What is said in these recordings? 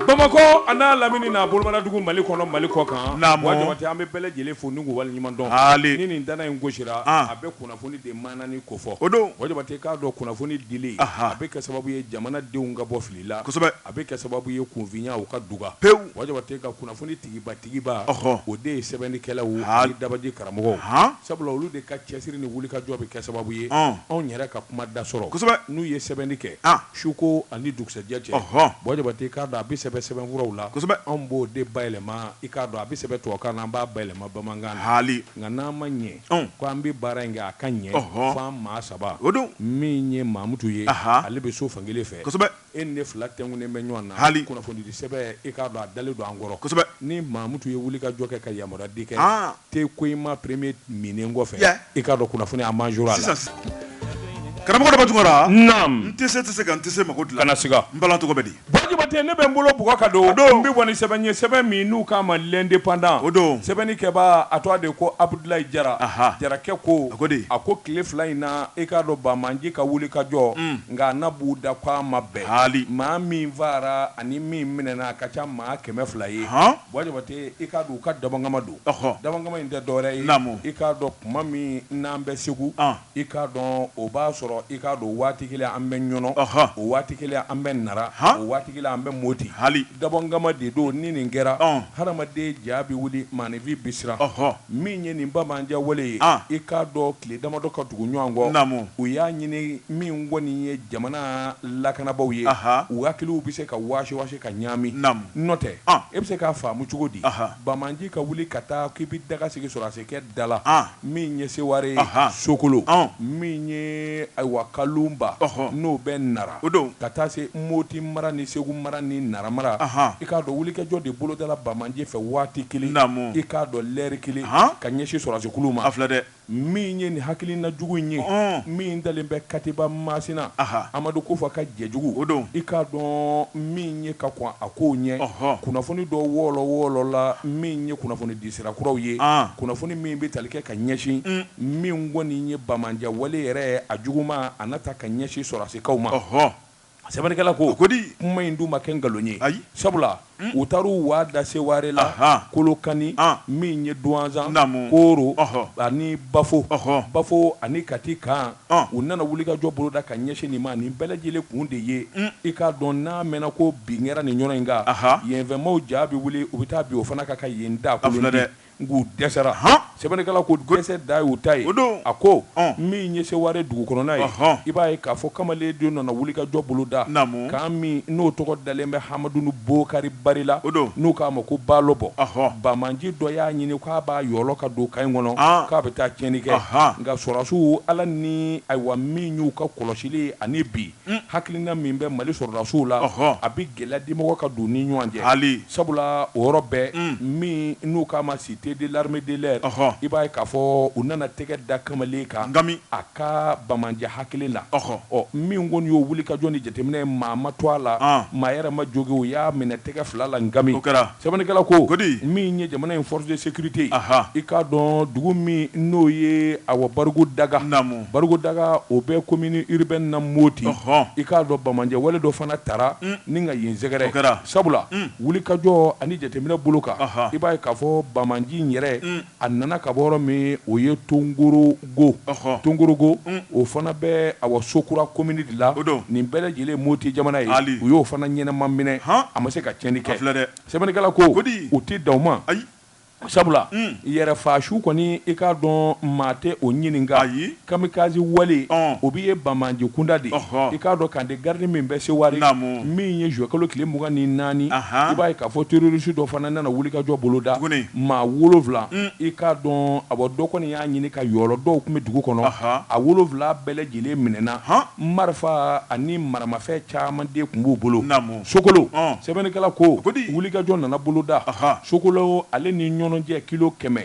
Bamakɔ an'a lamini n'a bolomanadugu mali kɔnɔ mali kɔkan Buwa Jabate an bɛ bɛɛ lajɛlen fo ni wale ɲuman dɔn ni nin dana in gosira a bɛ kunnafoni de manani ko fɔ o don Buwa Jabate k'a dɔn kunnafoni dili a bɛ kɛ sababu ye jamana denw ka bɔ fili la a bɛ kɛ sababu ye kunfinya ka duga pewu Buwa Jabate ka kunnafoni tigibatigiba o de ye sɛbɛnnikɛlaw ani dabaji karamɔgɔw sabula olu de ka cɛsiri ni wulikajɔ bɛ kɛ sababu ye anw yɛrɛ ka kuma da sɔrɔ n'u ye sɛbɛnni kɛ suko ani dugusɛjɛ cɛ Buwa Jabate i k'a dɔn a bɛ sɛbɛn sɛbɛnfuraw la anw b'o de bayɛlɛma i k'a dɔn a bɛ sɛbɛn tubabukan na an b'a bayɛlɛma bamanankan na hali nka n'an ma ɲɛ ko an bɛ baara in kɛ a ka ɲɛ fo an maa saba o don min ye mamutu ye ale bɛ so fankelen fɛ E ni ne fila tɛnkunnen bɛ ɲɔgɔn na, hali kunnafonidi sɛbɛn, i k'a dɔn a dalen don an kɔrɔ, kosɛbɛ, ni Mamutu ye wulikajɔ kɛ ka yamaruyadi kɛ te Koyima premier minnen kɔfɛ, i k'a dɔn kunnafoni a manjora a la. Sisan sisan. Karamɔgɔ Daba Tunkara. Naamu. N tɛ se tɛ se ka n tɛ se mako dilan. Kana siga. N balan tɔgɔ bɛ di? Buwa Jabate, ne bɛ n bolo bugɔ ka don. O don. N bɛ bɔ ni sɛbɛn ye, sɛbɛn min n'u k'a ma l'independant. O don. Sɛbɛnni kɛbaa, a tɔgɔ de ye ko Abudulayi Jara. Aha! Jarakɛ ko. A ko di? A ko tile fila in na, i k'a dɔn banbaanci ka wulikajɔ. Un! nka a na b'u da ko a ma bɛn. Haali. Maa min fagara ani min minɛna a ka ca maa kɛmɛ fila ye. Ɔnhɔn. Buwa Jabate, i k'a dɔn u ka dabɔnkama don. Ɔhɔ. Dabɔnkama in tɛ dɔwɛrɛ ye. Naamu. I k'a dɔn tuma min n'an bɛ Segu. An. I k'a dɔn o b'a sɔrɔ i k'a dɔn waati kelen an bɛ Ɲɔnɔ. Ɔhɔ. O waati kelen an bɛ Nara. Han. O waati kelen an bɛ Moti. Haali. Dabɔnkama de don, ni nin kɛra. Ɔn. Hadamaden ja bɛ wuli, maaninfin bɛ siran. Ɔhɔ. Min ye nin banbaanciya wale ye i k'a dɔn tile damadɔ ka tugu ɲɔgɔn kɔ u y'a ɲini min kɔni ye jamana lakanabaaw ye u hakiliw bɛ se ka wasiwasi ka ɲaami n'o tɛ e bɛ se k'a faamu cogo di banbaanci ka wuli ka taa k'i bɛ daga sigi sɔrɔdasikɛ da la min ye seware sokolo min ye ayiwa kalunba n'o bɛ nara o don ka taa se moti mara ni segu mara ni nara mara i k'a dɔn wulikajɔ de bolodala banbaanci fɛ waati kelen namu i k'a dɔn lɛri kelen ka ɲɛsin sɔrɔdasikulu ma filɛ dɛ min ye nin hakilina jugu in ye min dalen bɛ katiba masina amadu kufa ka jɛjugu o don i k'a dɔn min ye ka kɔn a ko ɲɛ kunnafoni dɔ wɔrɔwɔrɔla min ye kunnafoni di sira kuraw ye kunnafoni min bɛ tali kɛ ka ɲɛsin min kɔni ye banbaanciya wale yɛrɛ a jugu ma a nata ka ɲɛsin sɔrɔdasikaw ma, ɔhɔ, sɛbɛnnikɛla ko, o ko di? kuma in dun ma kɛ nkalon ye, ayi, sabula u taara u waa da Seware la, ahan, Kolokani, an, min ye Duwanzan, naamu, Kooro, ɔhɔ, ani Bafo, ɔhɔ, Bafo ani Kati kan, an, u nana wulikajɔ boloda ka ɲɛsin nin ma, nin bɛɛ lajɛlen kun de ye, un, i k'a dɔn n'a mɛnna ko bin kɛra nin yɔrɔ in kan, ahan, yenfɛmaaw ja bɛ wuli, u bɛ taa bin o fana kan ka yen dakolon to, a filɛ dɛ. Nk'u dɛsɛra, han, sɛbɛnnikɛla ko dɛsɛ dan y'u ta ye, o don, a ko, ɔn, min ye Seware dugu kɔnɔna ye, ɔnhɔn, i b'a ye k'a fɔ kamalen de nana wulikajɔ bolo da, naamu, kan min n'o tɔgɔ dalen bɛ Hamadunu Bokari Bari la, o don, n'u k'a ma ko Baalɔbɔ, ɔnhɔn, banbaanci dɔ y'a ɲini k'a b'a yɔlɔ ka don kan in kɔnɔ, an, k'a bɛ taa tiɲɛni kɛ, anhan, nka sɔrasiw Ala ni, ayiwa, min y'u ka kɔlɔsili ye ani bi, Hakilina min bɛ mali sɔrɔdasiw la a bɛ gɛlɛya dimɔgɔ ka don u ni ɲɔgɔn cɛ hali sabula o yɔrɔ bɛɛ min n'u k'a ma cité de l'armée de l'air i b'a ye k'a fɔ u nana tɛgɛ da kamalen kan nka a ka banbaanciya hakili la ɔ ɔ min kɔni y'o wulikajɔ ni jateminɛ ye maa ma to a la maa yɛrɛ ma jogin u y'a minɛ tɛgɛ fila la nka kɛra Sɛbɛnnikɛla ko, ko di? min ye jamana in force de sécurité Ahan. i k'a dɔn dugu min n'o ye awa Barigondaga, naamu, Barigondaga o bɛ commune urbaine na Moti, ɔhɔn, i k'a dɔn banbaanciya wale dɔ fana taara un, ni ka yen sɛgɛrɛ, o kɛra, sabula un, wulikajɔ ani jateminɛ bolo kan, Ahan, i b'a ye k'a fɔ banbaanci in yɛrɛ un, a nana ka bɔ yɔrɔ min o ye Tongoro go Tongorongo o fana bɛ awa Sokura komini de la nin bɛɛ lajɛlen moti jamana ye u y'o fana ɲɛnama minɛ a ma se ka tiɲɛni kɛ filɛ dɛ sɛbɛnnikɛla ko u tɛ dan o ma ayi sabula yɛrɛfaasu kɔni i k'a dɔn maa tɛ o ɲininka ayi kamikaze wale o bɛ ye banbaanci kunda de i k'a dɔn camp de garde min bɛ Seware min ye juillet kalo tile mugan ni naani i b'a ye k'a fɔ terroriste dɔ fana nana wulikajɔ boloda maa wolowula i k'a dɔn awa dɔ kɔni y'a ɲini ka yɔlɔ dɔw tun bɛ dugu kɔnɔ a wolowula bɛɛ lajɛlen minɛna marifa ani maramafɛn caman de tun b'u bolo sokolo sɛbɛnnikɛla ko wulikajɔ nana boloda sokolo ale ni Ɲɔnɔ cɛ kilo kɛmɛ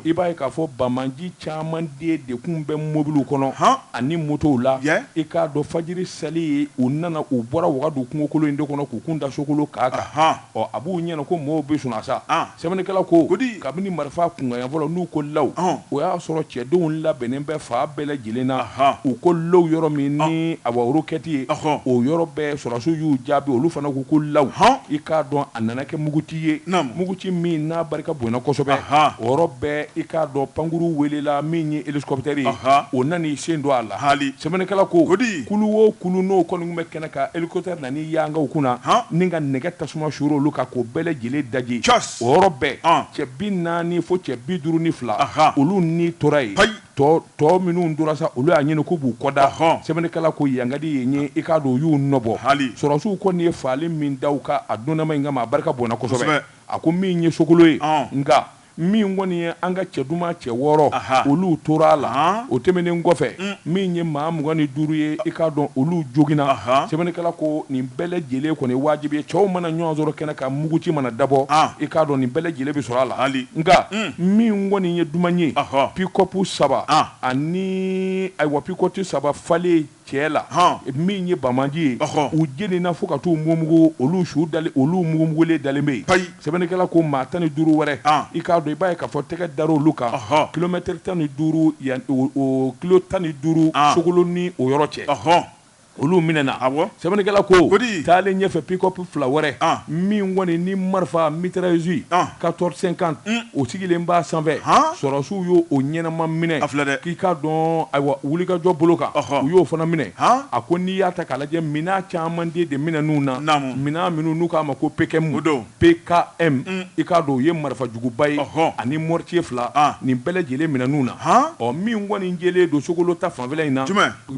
i b'a ye k'a fɔ banbaanci caman de tun bɛ mobili kɔnɔ ani motow la i k'a dɔn fajiri seli ye u nana u bɔra wagadu kungokolon in de kɔnɔ k'u kun da sokolo kan kan ɔ a b'u ɲɛna ko maaw bɛ sunɔgɔ la sa Sɛbɛnnikɛla ko kabini marifa kunkanɲɛ fɔlɔ n'u ko law, ɔhɔn, o y'a sɔrɔ cɛdenw labɛnnen bɛ fan bɛɛ lajɛlen na, anhan, u ko law yɔrɔ min ni awa rokɛti ye, ɔhɔn, o yɔrɔ bɛɛ sɔrɔdasiw y'u jaabi olu fana ko ko law, ɔhɔn, i k'a dɔn a nana kɛ muguci ye, naamu, muguci min n'a barika bonyana kosɛbɛ, anhan, o yɔrɔ bɛɛ i k'a dɔn pankurun welela min ye hélicoptère ye, anhan, o nan'i sen don a la, haali, sɛbɛnnikɛla ko kulu o kulu n'o kɔni tun bɛ Kɛnɛ kan hélicoptère nan'i yanga u kunna ni ka nɛgɛ tasuma suru olu kan k'o bɛɛ lajɛlen daji, o yɔrɔ bɛɛ, cɛ bi naani fo cɛ bi duuru ni fila, olu ni tora yen, tɔ minnu tora sa, olu y'a ɲini k'u b'u kɔda, sɛbɛnnikɛla ko yan ka di yen ye, i k'a dɔn u y'u nɔbɔ, sɔrɔdasiw kɔni ye fagali min da u kan a don dama in kama, a barika bonyana kosɛbɛ, a ko min ye Sokolo ye, nka Min kɔni ye an ka cɛ duman cɛ wɔɔrɔ, anhan, olu tora a la, anhan, o tɛmɛnen kɔfɛ, un, min ye maa mugan ni duuru ye, i k'a dɔn olu joginna, anhan, sɛbɛnnikɛla ko nin bɛɛ lajɛlen kɔni ye wajibi ye, cɛw mana ɲɔgɔn sɔrɔ kɛnɛ kan muguci mana dabɔ, an, i k'a dɔn nin bɛɛ lajɛlen bɛ sɔrɔ a la, hali, nka, un, min kɔni ye duman ye, ɔhɔ, pikɔpu saba, an, ani ayiwa pikɔpu saba falen cɛ la min ye banbaanci ye u jeninna fo ka t'u mugumugu olu su dalen olu mugumugulen dalen bɛ yen sɛbɛnnikɛla ko maa tan ni duuru wɛrɛ i k'a dɔn i b'a ye ka fɔ tɛgɛ dara olu kan kilomɛtiri tan ni duuru yan kilo tan ni duuru sokolo ni o yɔrɔ cɛ olu minɛna sɛbɛnnikɛla ko taalen ɲɛfɛ pikɔpu fila wɛrɛ min kɔni ni marifa mitrailleuse quatorze cinquante o sigilen b'a sanfɛ sɔrɔsiw y'o ɲɛnama minɛ dɛ k'i k'a dɔn ayiwa wulikajɔ bolo kan u y'o fana minɛ a ko n'i y'a ta k'a lajɛ minɛn caman de minɛn'u na minɛn minnu n'u k'a ma ko PKM PKM i k'a dɔn u ye marifa juguba ye ani mortier fila nin bɛɛ lajɛlen minɛn'u na ɔ min kɔni jɛlen don sokolo ta fanfɛla in na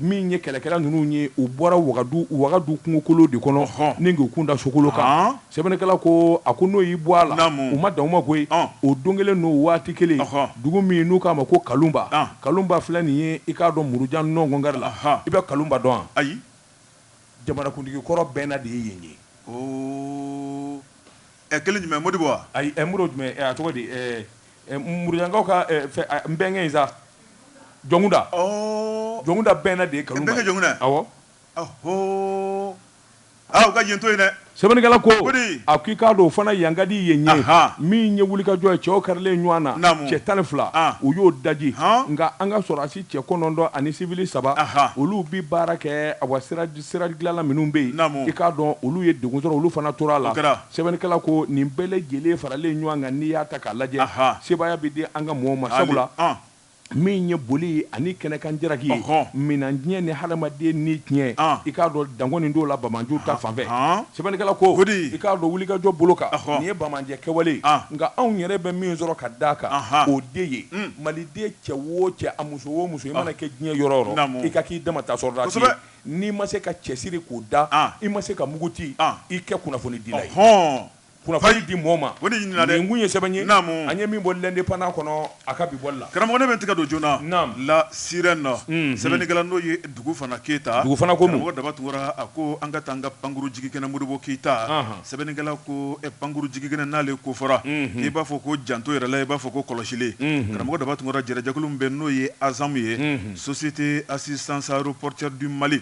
Min ye kɛlɛkɛla ninnu ye u bɔra wagadu wagadu kungokolo de kɔnɔ ɔnhɔn ni k'u kun da sokolo kan haan sɛbɛnnikɛla koo a ko n'o y'i bɔ a la naamu u ma dan o ma koyi ɔn o don kelen n'o waati kelen ɔnhɔn dugu min n'u k'a ma ko Kalunba an Kalunba filɛ nin ye i k'a dɔn murujan nɔngɔn kari la anhan i bɛ Kalunba dɔn wa ayi jamanakuntigi kɔrɔ bɛnna de ye yen ye oo ɛ kelen jumɛn Modibo wa ayi ɛ Modibo jumɛn ɛ a tɔgɔ di ɛɛ Murujankaw ka bɛnkɛ in sa Jɔnkunda Jɔnkunda bɛnna de ye Kalunba ye awɔ u ka yen to yen dɛ sɛbɛnnikɛla ko a ko i k'a dɔn o fana yankadi ye ɲɛ min ye wulikajɔ ye cɛw karilen ɲɔgɔn na cɛ tan ni fila u y'o daji nka an ka sɔrɔsi cɛ kɔnɔntɔn ani siwili saba olu bɛ baara kɛ a wa sira dilanla minnu bɛ yen i k'a dɔn olu ye degun sɔrɔ olu fana tora a la Sɛbɛnnikɛla ko nin bɛɛ lajɛlen faralen ɲɔgɔn kan n'i y'a ta k'a lajɛ, sebaaya bɛ di an ka mɔɔw ma, sabula min ye boli ani kɛnɛkan jaraki ye, minan tiɲɛ ni hadamaden ni tiɲɛ, i k'a dɔn dan kɔni t'o la banbaanci ta fan fɛ. Sɛbɛnnikɛla ko i k'a dɔn wulikajɔ bolo kan, nin ye banbaanci kɛwale ye, nka anw yɛrɛ bɛ min sɔrɔ ka d'a kan, o de ye maliden cɛ o cɛ, a muso o muso, i mana kɛ diɲɛ yɔrɔ o yɔrɔ, i ka k'i dama ta sɔrɔdasi ye. N'i ma se ka cɛsiri k'o da, an, i ma se ka muguti, an, i kɛ kunnafonidila ye. Ɔhɔn! Kunnafoni di mɔɔ ma. O de ɲininna dɛ! Nin kun ye sɛbɛn ye. Naamu! An ye min bɔ L'Indépendant kɔnɔ, a ka bi bɔli la. Karamɔgɔ, ne bɛ n tɛgɛ don joona. Naamu! La Sirène, unhun, sɛbɛnnikɛla n'o ye Dugufana Keyita. Dugufana ko mun? Karamɔgɔ Daba Tunkara, a ko an ka taa an ka pankurun jigikɛnɛ Modibo Keyita. Anhan! Sɛbɛnnikɛla ko pankuru jigikɛnɛ n'ale ko fɔra k'i b'a fɔ ko janto yɛrɛ la i b'a fɔ ko kɔlɔsili karamɔgɔ daba tunkara jɛrɛjɛkulu min bɛ n'o ye ASAM ye Société Assistance Aéroportuaire du Mali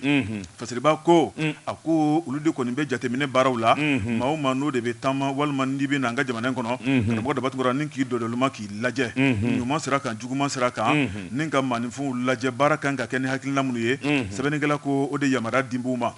fasiriba ko a ko olu de kɔni bɛ jateminɛ baaraw la maa o maa n'o de bɛ taama walima n'i bɛ na an ka jamana in kɔnɔ karamɔgɔ daba tunkara ni k'i dɔdɔluma k'i lajɛ ɲuman sira kan juguman sira kan ni ka maaninfinw lajɛ baara kan ka kɛ ni hakilina minnu ye sɛbɛnnikɛla ko o de yamaruya dilen b'u ma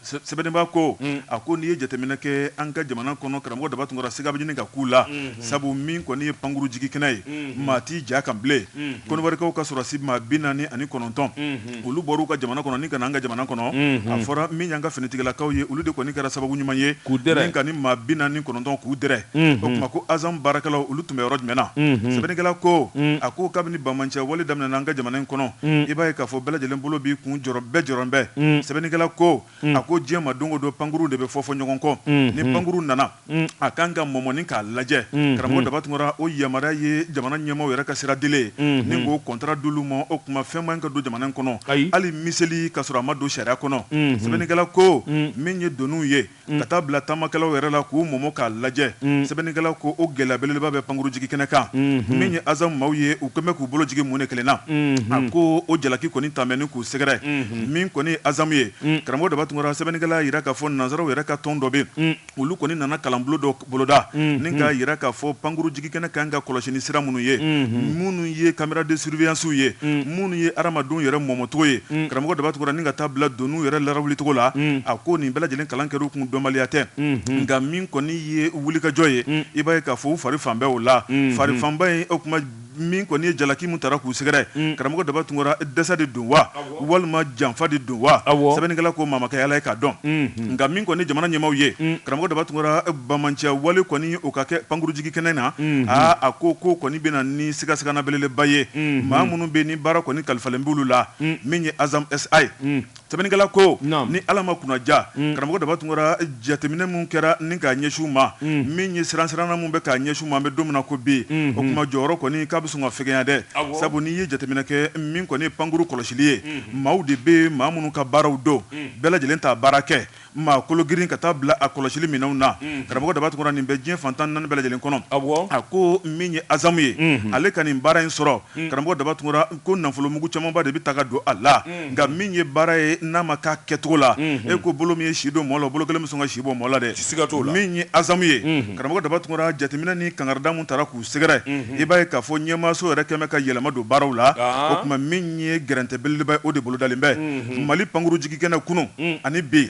Sɛbɛnniba ko a ko n'i ye jateminɛ kɛ an ka jamana kɔnɔ karamɔgɔ daba tunkara siga bɛ ɲini ka k'u la sabu min kɔni ye pankuru jigikɛnɛ ye maa t'i ja kan bilen Kɔdiwarikaw ka sɔrɔdasi maa bi naani ani kɔnɔntɔn olu bɔra u ka jamana kɔnɔ ni ka na an ka jamana kɔnɔ a fɔra min y'an ka finitigilakaw ye olu de kɔni kɛra sababu ɲuman ye ni ka nin maa bi naani kɔnɔntɔn k'u dɛrɛ o tuma ko ASAM baarakɛlaw olu tun bɛ yɔrɔ jumɛn na sɛbɛnnikɛla ko a ko kabini banbaanci wale daminɛna an ka jamana in kɔnɔ i b'a ye k'a fɔ bɛɛ lajɛlen bolo b'i kun bɛɛ jɔrɔn bɛ sɛbɛnnikɛla ko a ko diɲɛ ma don o don pankuru de bɛ fɔfɔ ɲɔgɔn kɔ ni pankuru nana a kan ka mɔmɔ ni k'a lajɛ karamɔgɔ daba tunkara o yamaruya ye jamana ɲɛmaaw yɛrɛ ka sira dilen ni k'o contrat d'olu ma o tuma fɛn man ka don jamana in kɔnɔ hali miseli ka sɔrɔ a ma don sariya kɔnɔ sɛbɛnnikɛla ko min ye doniw ye ka taa bila taamakɛlaw yɛrɛ la k'u mɔmɔ k'a lajɛ sɛbɛnnikɛla ko o gɛlɛya belebeleba bɛ pankuru jigikɛnɛ kan min ye azamu maaw ye u kɛlen bɛ k'u bolo jigin mun de kelen na a ko o jalaki kɔni taalen bɛ ni k'u sɛgɛrɛ min kɔni ye azamu ye karamɔgɔ daba tunkara sɛbɛnnikɛla y'a jira k'a fɔ nansaraw yɛrɛ ka tɔn dɔ bɛ olu kɔni nana kalanbolo dɔ boloda ni k'a jira k'a fɔ pankuru jigikɛnɛ kan ka kɔlɔsi ni sira minnu ye minnu ye caméra de surveillancew ye minnu ye adamadenw yɛrɛ mɔmɔcogo ye karamɔgɔ daba tunkara ni ka taa bila doniw yɛrɛ lawulicogo la a ko nin bɛɛ lajɛlen kalan kɛr'u kun dɔnbaliya tɛ nka min kɔni ye wulikajɔ ye i b'a ye k'a fɔ u fari faalen bɛ o la farifaaba ye o kuma min kɔni ye jalaki min taara k'u sɛgɛrɛ mm. karamɔgɔ daba tunkara dɛsɛ de don wa walima janfa de don wa sɛbɛnnikɛla ko maa ma kɛ Ala ye k'a dɔn mm-hmm. nka min kɔni jamana ɲɛmaaw ye mm. karamɔgɔ daba tunkara banbaanciya wale kɔni o ka kɛ pankurujigi kɛnɛ na mm-hmm. aa a ko k'o kɔni bɛna ni sigasigana belebeleba ye mm-hmm. maa minnu bɛ nin baara kɔni kalifalen b'olu la min ye ASAM SA ye Sɛbɛnnikɛla ko, naamu, ni Ala ma kunnaja, un, karamɔgɔ Daba Tunkara jateminɛ minnu kɛra ni k'a ɲɛsin u ma, un, min ye siransiranna minnu bɛ k'a ɲɛsin u ma an bɛ don min na ko bi, unhun, o tuma jɔyɔrɔ kɔni k'a bɛ sɔn ka fɛgɛnya dɛ, awɔ, sabu n'i ye jateminɛ kɛ min kɔni ye pankuru kɔlɔsili ye, unhun, maaw de bɛ yen maa minnu ka baaraw don, un, bɛɛ lajɛlen t'a baara kɛ. maa kologirin ka taa bila a kɔlɔsili minɛnw na karamɔgɔ daba tunkara nin bɛ diɲɛ fantan naani bɛɛ lajɛlen kɔnɔ a ko min ye azamu ye ale ka nin baara in sɔrɔ karamɔgɔ daba tunkara ko nafolomugu camanba de bɛ taa ka don a la nka min ye baara ye n'a ma k'a kɛcogo la e ko bolo min ye si don mɔɔ la bolo kelen bɛ sɔn ka si bɔ mɔɔ la dɛ min ye azamu ye karamɔgɔ daba tunkara jateminɛ ni kangarida min taara k'u Sɛgɛrɛ i b'a ye k'a fɔ ɲɛmaaso yɛrɛ kɛlen bɛ ka yɛlɛma don baaraw la o tuma min ye gɛrɛntɛ belebeleba ye o de bolodalen bɛ mali pankuru jigikɛnɛ kunun ani bi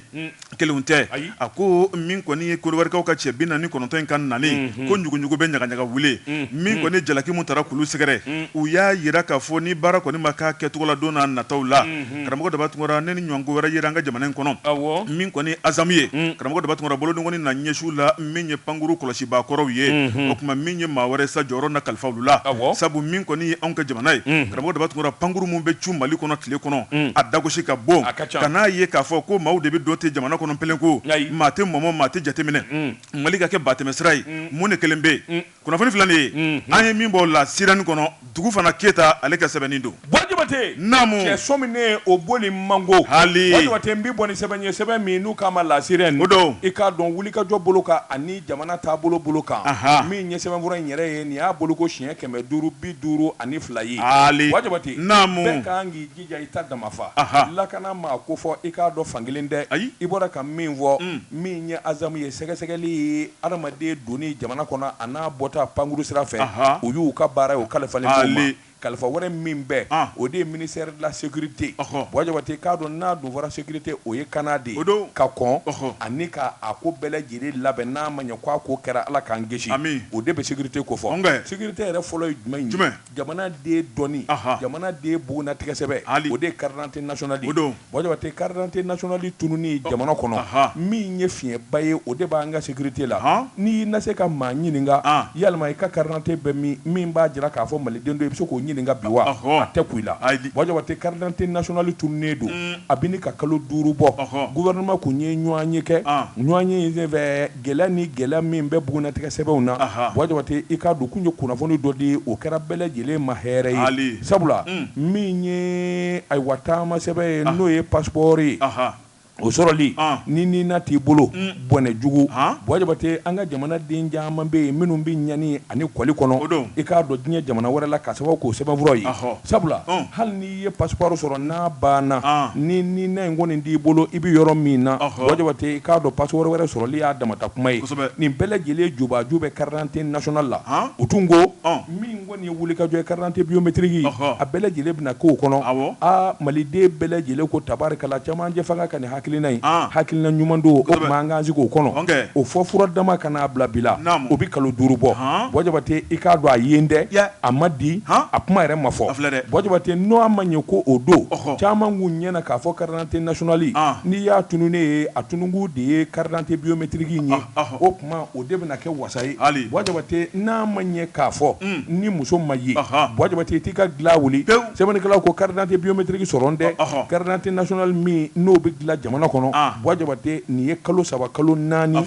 kelen tɛ a ko min kɔni ye kɔdiwarikaw ka cɛ bi naani ni kɔnɔntɔn in ka nali ko ɲuguɲugu bɛ ɲagaɲaga wuli min kɔni jalaki min taara k'olu sɛgɛrɛ u y'a jira k'a fɔ ni baara kɔni ma k'a kɛcogo la don n'a nataw la karamɔgɔ Daba Tunkara ni nin ɲɔgɔn ko wɛrɛ yera an ka jamana in kɔnɔ min kɔni azamu ye karamɔgɔ Daba Tunkara bolokɔni na ɲɛsi u la min ye pankuru kɔlɔsibaa kɔrɔw ye o kuma min ye maa wɛrɛ sa jɔyɔrɔ na kalifa olu la sabu min kɔni ye anw ka jamana ye karamɔgɔ Daba Tunkara pankuru min bɛ cun mali kɔnɔ tile kɔnɔ a dagosi ka bon ka n'a ye k'a fɔ ko maaw de bɛ don ten jamana kɔnɔ pelen ko maa tɛ mɔmɔ maa tɛ jateminɛ mali ka kɛ batɛmɛsira ye mun de kɛlen bɛ yen Kunnafoni filɛ nin ye, unhun, an ye min bɔ o La Sirène kɔnɔ, Dugufana Keyita ale ka sɛbɛnni don. Buwa Jabate, naamu, cɛ sɔmi ne o boli man go. Haali! Buwa Jabate, n b'i bɔ ni sɛbɛn ye, sɛbɛn min n'u k'a ma La Sirène, o don, i k'a dɔn wulikajɔ bolo kan ani jamana taabolo bolo kan, anhan, min ye sɛbɛnfura in yɛrɛ ye, nin y'a boloko siɲɛ kɛmɛ duuru bi duuru ani fila ye. Haali! Buwa Jabate, naamu, bɛɛ ka kan k'i jija i ta damafa lakana maa ko fɔ i k'a dɔn fankelen dɛ ayi i bɔra ka min fɔ min ye azamu ye sɛgɛsɛgɛli ye adamaden donni jamana kɔnɔ an'a bɔta pankuru sira fɛ o y'u ka baara ye o kalifalen kalifa wɛrɛ min bɛ o de ye ministère de la sécurité Buwa Jabate i k'a dɔn n'a dun fɔra sécurité o ye kana de o don ka kɔn ani k'a ko bɛɛ lajɛlen labɛn n'a ma ɲɛ ko a ko kɛra ala k'an kisi o de bɛ sécurité kofɔ sécurité yɛrɛ fɔlɔ ye jumɛn ye Jamanaden dɔnni jamanaden bugunnatigɛsɛbɛn o de ye carte d'identité nationale ye o don Buwa Jabate carte d'identité nationale tununni jamana kɔnɔ min ye fiɲɛba ye o de b'an ka sécurité la n'i na se ka maa ɲininka yalima i ka carte d'identité bɛ min min b'a jira k'a fɔ maliden don i bɛ se k'o ɲininka bi wa a tɛ kun i la Buwa Jabate carte d'identité nationale tununnen don a bɛ ɲini ka kalo duuru bɔ gouvernement kun ye ɲɔgɔnye kɛ ɲɔgɔnye in fɛ gɛlɛya ni gɛlɛya min bɛ bugunnatigɛ sɛbɛnw na Aha. Buwa Jabate i k'a dɔn u kun ye kunnafoni dɔ di o kɛra bɛɛ lajɛlen ma hɛrɛ ye Haali. sabula min ye ayiwa taamasɛbɛn ye n'o ye passeport ye Aha. o sɔrɔli An. ni NINA t'i bolo bɔnɛ jugu Han. Buwa Jabate an ka jamana den caman bɛ yen minnu bɛ ɲani ani kɔli kɔnɔ O don. i k'a dɔn diɲɛ jamana wɛrɛ la k'a sababu k'o sɛbɛnfuraw ye Ahɔ. sabula Un. hali ni i ye passeport sɔrɔ n'a banna ni NINA in kɔni t'i bolo i bɛ yɔrɔ min na Buwa Jabate i k'a dɔn passeport wɛrɛ sɔrɔli y'a damata kuma ye nin bɛɛ lajɛlen jubaju bɛ carte d'identité nationale la u tun ko min kɔni ye wulikajɔ ye carte d'identité biométrique a bɛɛ lajɛlen bɛna k'o kɔnɔ aa maliden bɛɛ lajɛlen ko tabarikala camancɛ fanga ka hakilina in hakilina ɲuman don o tuma an k'an sigi o kɔnɔ o fɔ fura dama ka n'a bila bi la o bɛ kalo duuru bɔ Buwa Jabate i k'a dɔn a ye n dɛ a ma di a kuma yɛrɛ ma fɔ Buwa Jabate n'o a ma ɲɛ ko o don caman k'u ɲɛ na k'a fɔ carte d'identité nationale n'i y'a tununnen ye a tununkun de ye carte d'identité biométrique in ye tuma o de bɛna kɛ wasa ye Bua Jabate n'a ma ɲɛ k'a fɔ ni muso ma ye Bua Jabate i t'i ka dilan wuli sɛbɛnnikɛlaw ko carte d'identité biométrique sɔrɔlen tɛ carte d'identité nationale min n'o bɛ dilan jamana kɔnɔ Bua Jabate nin ye kalo saba kalo naani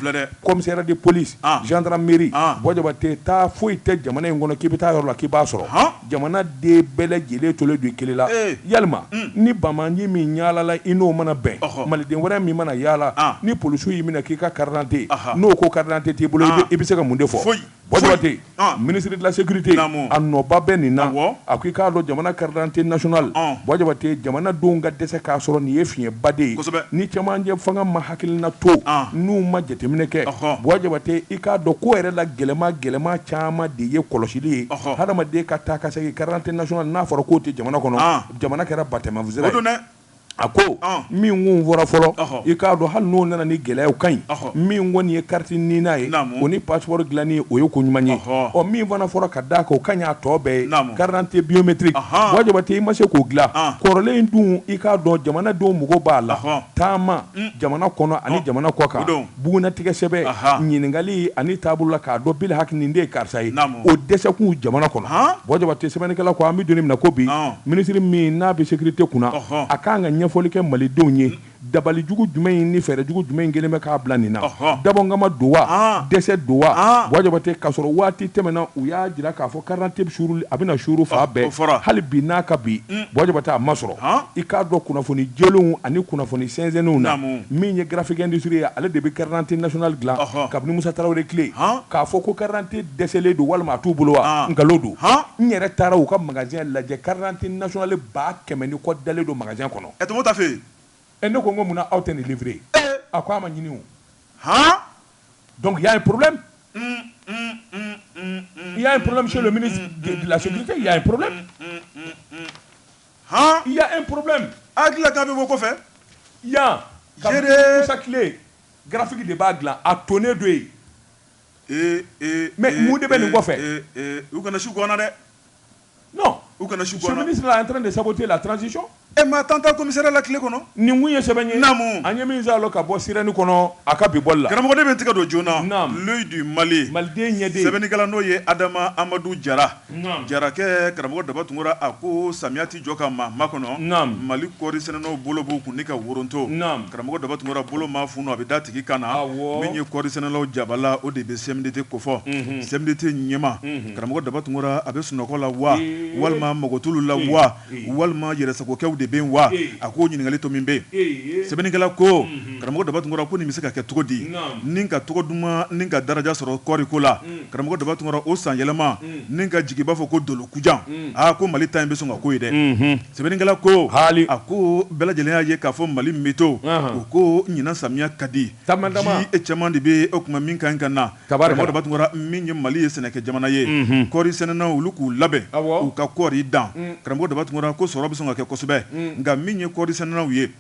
commissariat de police gendarmerie Bua Jabate taa foyi tɛ jamana in kɔnɔ k'i bɛ taa yɔrɔ la k'i b'a sɔrɔ Jamana den bɛɛ lajɛlen tolen don i kelen la. Ee! Yalima, un, ni bamanji min yaalala i n'o mana bɛn, ɔhɔ, maliden wɛrɛ min mana yaala, an, ni polisiw y'i minɛ k'i ka carte d'identité, aha, n'o ko carte d'identité t'i bolo, an, i bɛ se ka mun de fɔ? Foyi, foyi, Bua Jabate, an, ministre de la sécurité, naamu, a nɔba bɛ nin na, awɔ, a ko i k'a dɔn jamana carte d'identité nationale, ɔn, Bua Jabate, jamanadenw ka dɛsɛ k'a sɔrɔ nin ye fiɲɛba de ye, kosɛbɛ, ni cɛmancɛ fanga ma hakilina to ah. n'u ma jateminɛ kɛ Bua Jabate i k'a dɔn ko yɛrɛ la gɛlɛma gɛlɛma caman de ye kɔlɔsili ye hadamaden ka taa ka segin carte d'identité nationale n'a fɔra k'o tɛ jamana kɔnɔ ah. jamana kɛra batɛmafisi a ko ah. min kun fɔra fɔlɔ i k'a dɔn hali n'o nana ni gɛlɛyaw ka ɲi min kɔni ye carte NINA ye o ni passeport dilanni o ye ko ɲuman ye ɔ min fana fɔra ka d'a kan o ka ɲi a tɔ bɛɛ ye carte d'identité biométrique Bua Jabate i ma se k'o dilan kɔrɔlen in dun i k'a dɔn jamanadenw mago b'a la taama jamana kɔnɔ ani jamana kɔ kan bugunnatigɛ sɛbɛn ɲininkali ani taabolo la k'a dɔn bi haki nin de ye karisa ye o dɛsɛkun jamana kɔnɔ Bua Jabate sɛbɛnnikɛla ko an bɛ don min na ko bi ministre min n'a bɛ sécurité kunna a kan ka ɲɛfɔli kɛ malidenw ye dabalijugu jumɛn in ni fɛɛrɛjugu jumɛn in kelen bɛ k'a bila nin na dabɔkama don wa dɛsɛ don wa Bua Jabate k'a sɔrɔ waati tɛmɛna u y'a jira k'a fɔ Carte d'identité a bɛna suuru fan bɛɛ hali bi n'a ka bi Bua Jabate a ma sɔrɔ i k'a dɔn kunnafoni jɛlenw ani kunnafoni sɛnsɛnnenw na min ye Graphique Industrie ye ale de bɛ carte d'identité nationale dilan kabini musa tarawele tile k'a fɔ ko carte d'identité dɛsɛlen don walima a t'u bolo wa nkalon don n yɛrɛ taara u ka magasin lajɛ carte d'identité nationale ba kɛmɛ ni kɔ dalen don magasin kɔnɔ ɛ tɔgɔtafe ɛ ne ko ko munna aw tɛ nin livrer a ko a ma ɲini u Donc il y'a un problème un un un un un il y'a un problème chez le ministre de la sécurité il y'a un problème un un un han il y'a un problème a hakili la k'a bɛ bɔ kɔfɛ yan kabini Musa tile graphique de b'a dilan a tonnen don yen ee ee mais mun de bɛ nin kɔfɛ ee ee u kana su ko an na dɛ. non ce ministre là est en train de saboter la transition e ma tan ta commissariat la tile kɔnɔ nin ye sɛbɛ ye naamu an ye min sama ka bɔ Sirène kɔnɔ a ka bi bɔli la karamɔgɔ de bɛ tigɛ don journal L'Œil du Mali maliden ɲɛ sɛbɛnnikɛla n'o ye adama amadu jara jarakɛ karamɔgɔ daba Tunkara a ko samiya tɛ jɔ ka maa makɔnɔ mali kɔɔri sɛnɛnaw bolo b'u kun ni ka woroto karamɔgɔ daba Tunkara bolo ma funu a bɛ da tigi kan na min ye kɔɔri sɛnɛlaw jabala o de bɛ CMDT kofɔ CMDT ɲɛma karamɔgɔ daba tunkara a bɛ sunɔgɔ la wa walima mɔgɔtulu la wa walima yɛrɛsagokɛw de bɛ wa a k'o ɲininkali to min bɛ sɛbɛnnikɛla ko karamɔgɔ daba tunkara ko nin bɛ se ka kɛ cogo di ni ka tɔgɔ duman ni ka daraja sɔrɔ kɔɔri ko la karamɔgɔ daba tunkara o san yɛlɛma ni ka jigi b'a fɔ ko dolo kujan aa ko mali ta in bɛ sɔn ka ko ye dɛ sɛbɛnnikɛla ko a ko bɛɛ lajɛlen y'a ye k'a fɔ mali météo u ko ɲinan samiya ka di ji caman de bɛ o tuma min ka ɲi ka na min ye mali ye sɛnɛkɛ jamana ye kɔri sɛnɛnaw olu k'u labɛn u ka kɔri dan karamɔgɔ daba tunkara ko sɔrɔ bɛ sɔn ka kɛ kosɛbɛ nka min ye kɔri sɛnɛnaw ye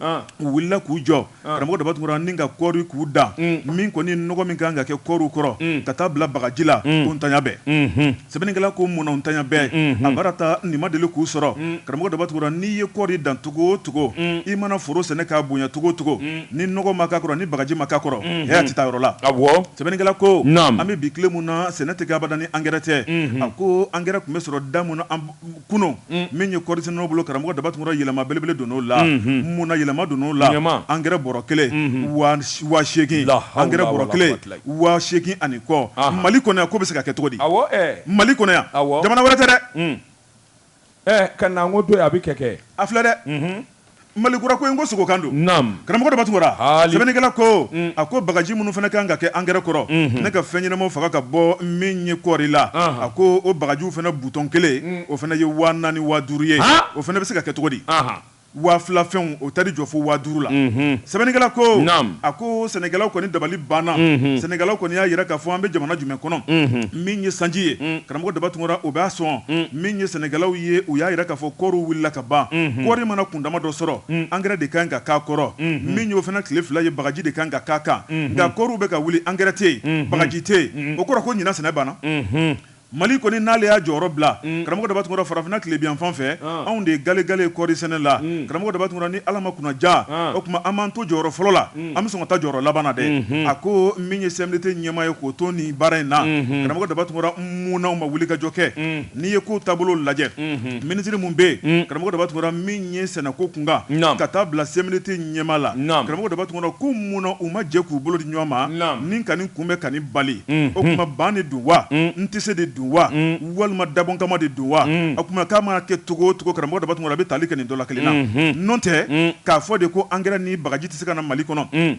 u wulila k'u jɔ karamɔgɔ daba tunkara ni ka kɔri k'u dan min kɔni nɔgɔ min kan ka kɛ kɔɔriw kɔrɔ ka taa bila bagaji la ko ntanya bɛɛ Sɛbɛnnikɛla ko munna u ntanya bɛɛ, unhun, a baara ta nin ma deli k'u sɔrɔ, un, karamɔgɔ Daba Tunkara n'i ye kɔɔri dan cogo o cogo, un, i mana foro sɛnɛ k'a bonya cogo o cogo, un, ni nɔgɔ ma k'a kɔrɔ ni bagaji ma k'a kɔrɔ, unhun, hɛɛ a tɛ taa yɔrɔ la, awɔ, sɛbɛnnikɛla ko, naamu, an bɛ bi tile min na sɛnɛ tɛ kɛ abada ni angɛrɛ tɛ, unhun, a ko angɛrɛ tun bɛ sɔrɔ da min na an kunun min ye kɔri sɛnɛnaw bolo karamɔgɔ daba tunkara yɛlɛma belebele donn'o la munna yɛlɛma donn'o la angɛrɛ bɔrɔ kelen waa seegin angɛrɛ bɔrɔ kelen waa seegin ani kɔ mali kɔnɔ yan ko bɛ se ka kɛ cogo di mali kɔnɔ yan jamana wɛrɛ tɛ dɛ ɛ ka ko don a bɛ kɛ kɛ a filɛ dɛ Malikura ko in ko sogokan don karamɔgɔ daba tunkara sɛbɛnnikɛla ko a ko bagaji minnu fana kan ka kɛ angɛrɛ kɔrɔ ni ka fɛnɲɛnama faga ka bɔ min ye kɔɔri la a ko o bagajiw fana butɔn kelen o fana ye waa naani waa duuru ye o fana bɛ se ka kɛ cogo di waa fila fɛnw o taar'i jɔ fo waa duuru la sɛbɛnnikɛla ko a ko sɛnɛkɛlaw kɔni dabali banna sɛnɛkɛlaw kɔni y'a jira k'a fɔ an bɛ jamana jumɛn kɔnɔ min ye sanji ye karamɔgɔ daba tunkara o b'a sɔn min ye sɛnɛkɛlaw ye u y'a jira k'a fɔ kɔɔriw wulila ka ban kɔɔri mana kundama dɔ sɔrɔ angɛrɛ de kan ka k'a kɔrɔ min y'o fana tile fila ye bagaji de kan ka k'a kan nka kɔɔriw bɛ ka wuli angɛrɛ tɛ yen bagaji tɛ yen o kɔrɔ ko ɲinan sɛnɛ banna mali kɔni n'ale y'a jɔyɔrɔ bila karamɔgɔ daba tunkara farafinna tilebin yanfan fɛ anw de ye galegale kɔɔri sɛnɛ la karamɔgɔ daba tunkara ni ala ma kunna ja o tuma an man to jɔyɔrɔ fɔlɔ la an bɛ sɔn ka taa jɔyɔrɔ laban na dɛ a ko min ye CMDT ɲɛmaa ye k'o to nin baara in na karamɔgɔ daba tunkara munna u ma wuli ka jɔ kɛ N'i ye ko taabolo lajɛ minisiri minnu bɛ yen karamɔgɔ daba tunkara min ye sɛnɛko kunkan ka taa bila CMDT ɲɛmaa la karamɔgɔ daba tunkara ko mun na u ma jɛ k'u bolo di ɲɔgɔn ma ni ka nin kunbɛn ka nin bali o tuma ban de don wa n tɛ se de don wa walima dabɔn kama de don wa o tuma k'a mana kɛ cogo o cogo karamɔgɔ daba tunkara a bɛ tali kɛ nin dɔlakelen na n'o tɛ k'a fɔ de ko angɛrɛ ni bagaji tɛ se ka na mali kɔnɔ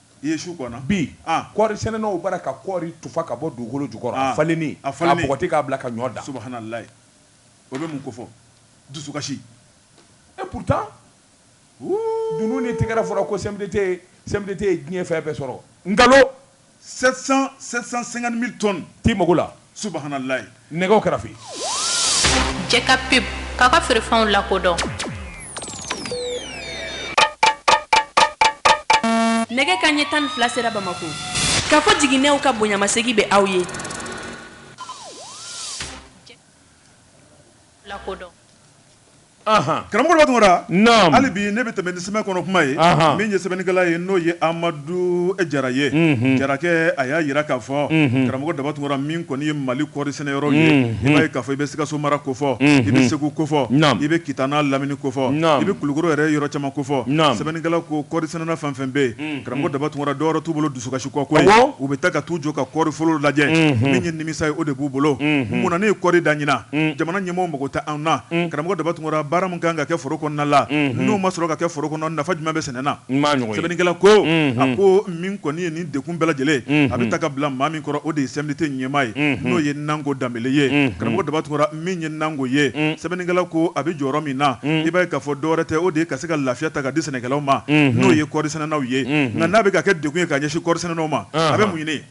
I ye su kɔnɔ bi kɔɔri sɛnɛnaw bara ka kɔɔri tufa ka bɔ dugukolo jukɔrɔ a falenni k'a bɔgɔti k'a bila ka ɲɔ dan subahanalayi o bɛ mun kofɔ dusukasi et pourtant dunun ni tigɛrɛ fɔra ko CMDT CMDT ye diɲɛ fɛn bɛɛ sɔrɔ nkalon 700 750.000 tonnes t'i mago la Subahanalayi. Nɛgɛw karafe. Jɛ ka pub k'aw ka feerefɛnw lakodɔn. Nɛgɛ kanɲɛ tan ni fila sera Bamako. Kafo Jiginɛw ka bonyamasegin bɛ aw ye. Jɛ ka pub k'aw ka feerefɛnw lakodɔn. Karamɔgɔ daba tunkara hali bi ne bɛ tɛmɛ ni sɛbɛn kɔnɔ kuma ye min ye sɛbɛnnikɛla ye n'o ye amadu jara ye jarakɛ a y'a jira k'a fɔ karamɔgɔ daba tun min kɔni ye mali kɔɔri sɛnɛ yɔrɔ ye i b'a ye k'a fɔ i bɛ sikaso mara ko fɔ i bɛ segu ko fɔ i bɛ kita n'a lamini ko fɔ i bɛ kulukɔrɔ yɛrɛ yɔrɔ caman ko fɔ sɛbɛnnikɛla ko kɔɔri sɛnɛna fɛn fɛn bɛ yen karamɔgɔ daba tun dɔwɛrɛ t'u bolo dusukasi kɔ koyi, awɔ, u bɛ taa ka t'u jɔ ka kɔɔri foro lajɛ, unhun, min ye nimisa ye o de b'u bolo, unhun, mun na ne ye kɔɔri dan ɲinan, un, jamana ɲɛmɔgɔw mago tɛ an na, un, karamɔgɔ Daba Tunkara baara min ka kan ka kɛ foro kɔnɔna la, unhun, n'o ma sɔrɔ ka kɛ foro kɔnɔ nafa jumɛn bɛ sɛnɛ na? N m'a ɲɔgɔn ye, sɛbɛnnikɛla ko, unhun, a ko min kɔni ye nin degun bɛɛ lajɛlen ye, unhun, a bɛ ta ka bila maa min kɔrɔ o de ye CMDT ɲɛmaa ye, unhun, n'o ye Nango Danbele ye, unhun, karamɔgɔ Daba Tunkara min ye nango ye sɛbɛnnikɛla ko a bɛ jɔyɔrɔ min na i b'a ye k'a fɔ dɔwɛrɛ tɛ o de ye ka se ka lafiya ta ka di sɛnɛkɛlaw ma n'o ye kɔɔrisɛnɛnaw ye nka n'a bɛ ka kɛ degun ye ka ɲɛsin kɔɔrisɛnɛnaw ma a bɛ mun ɲini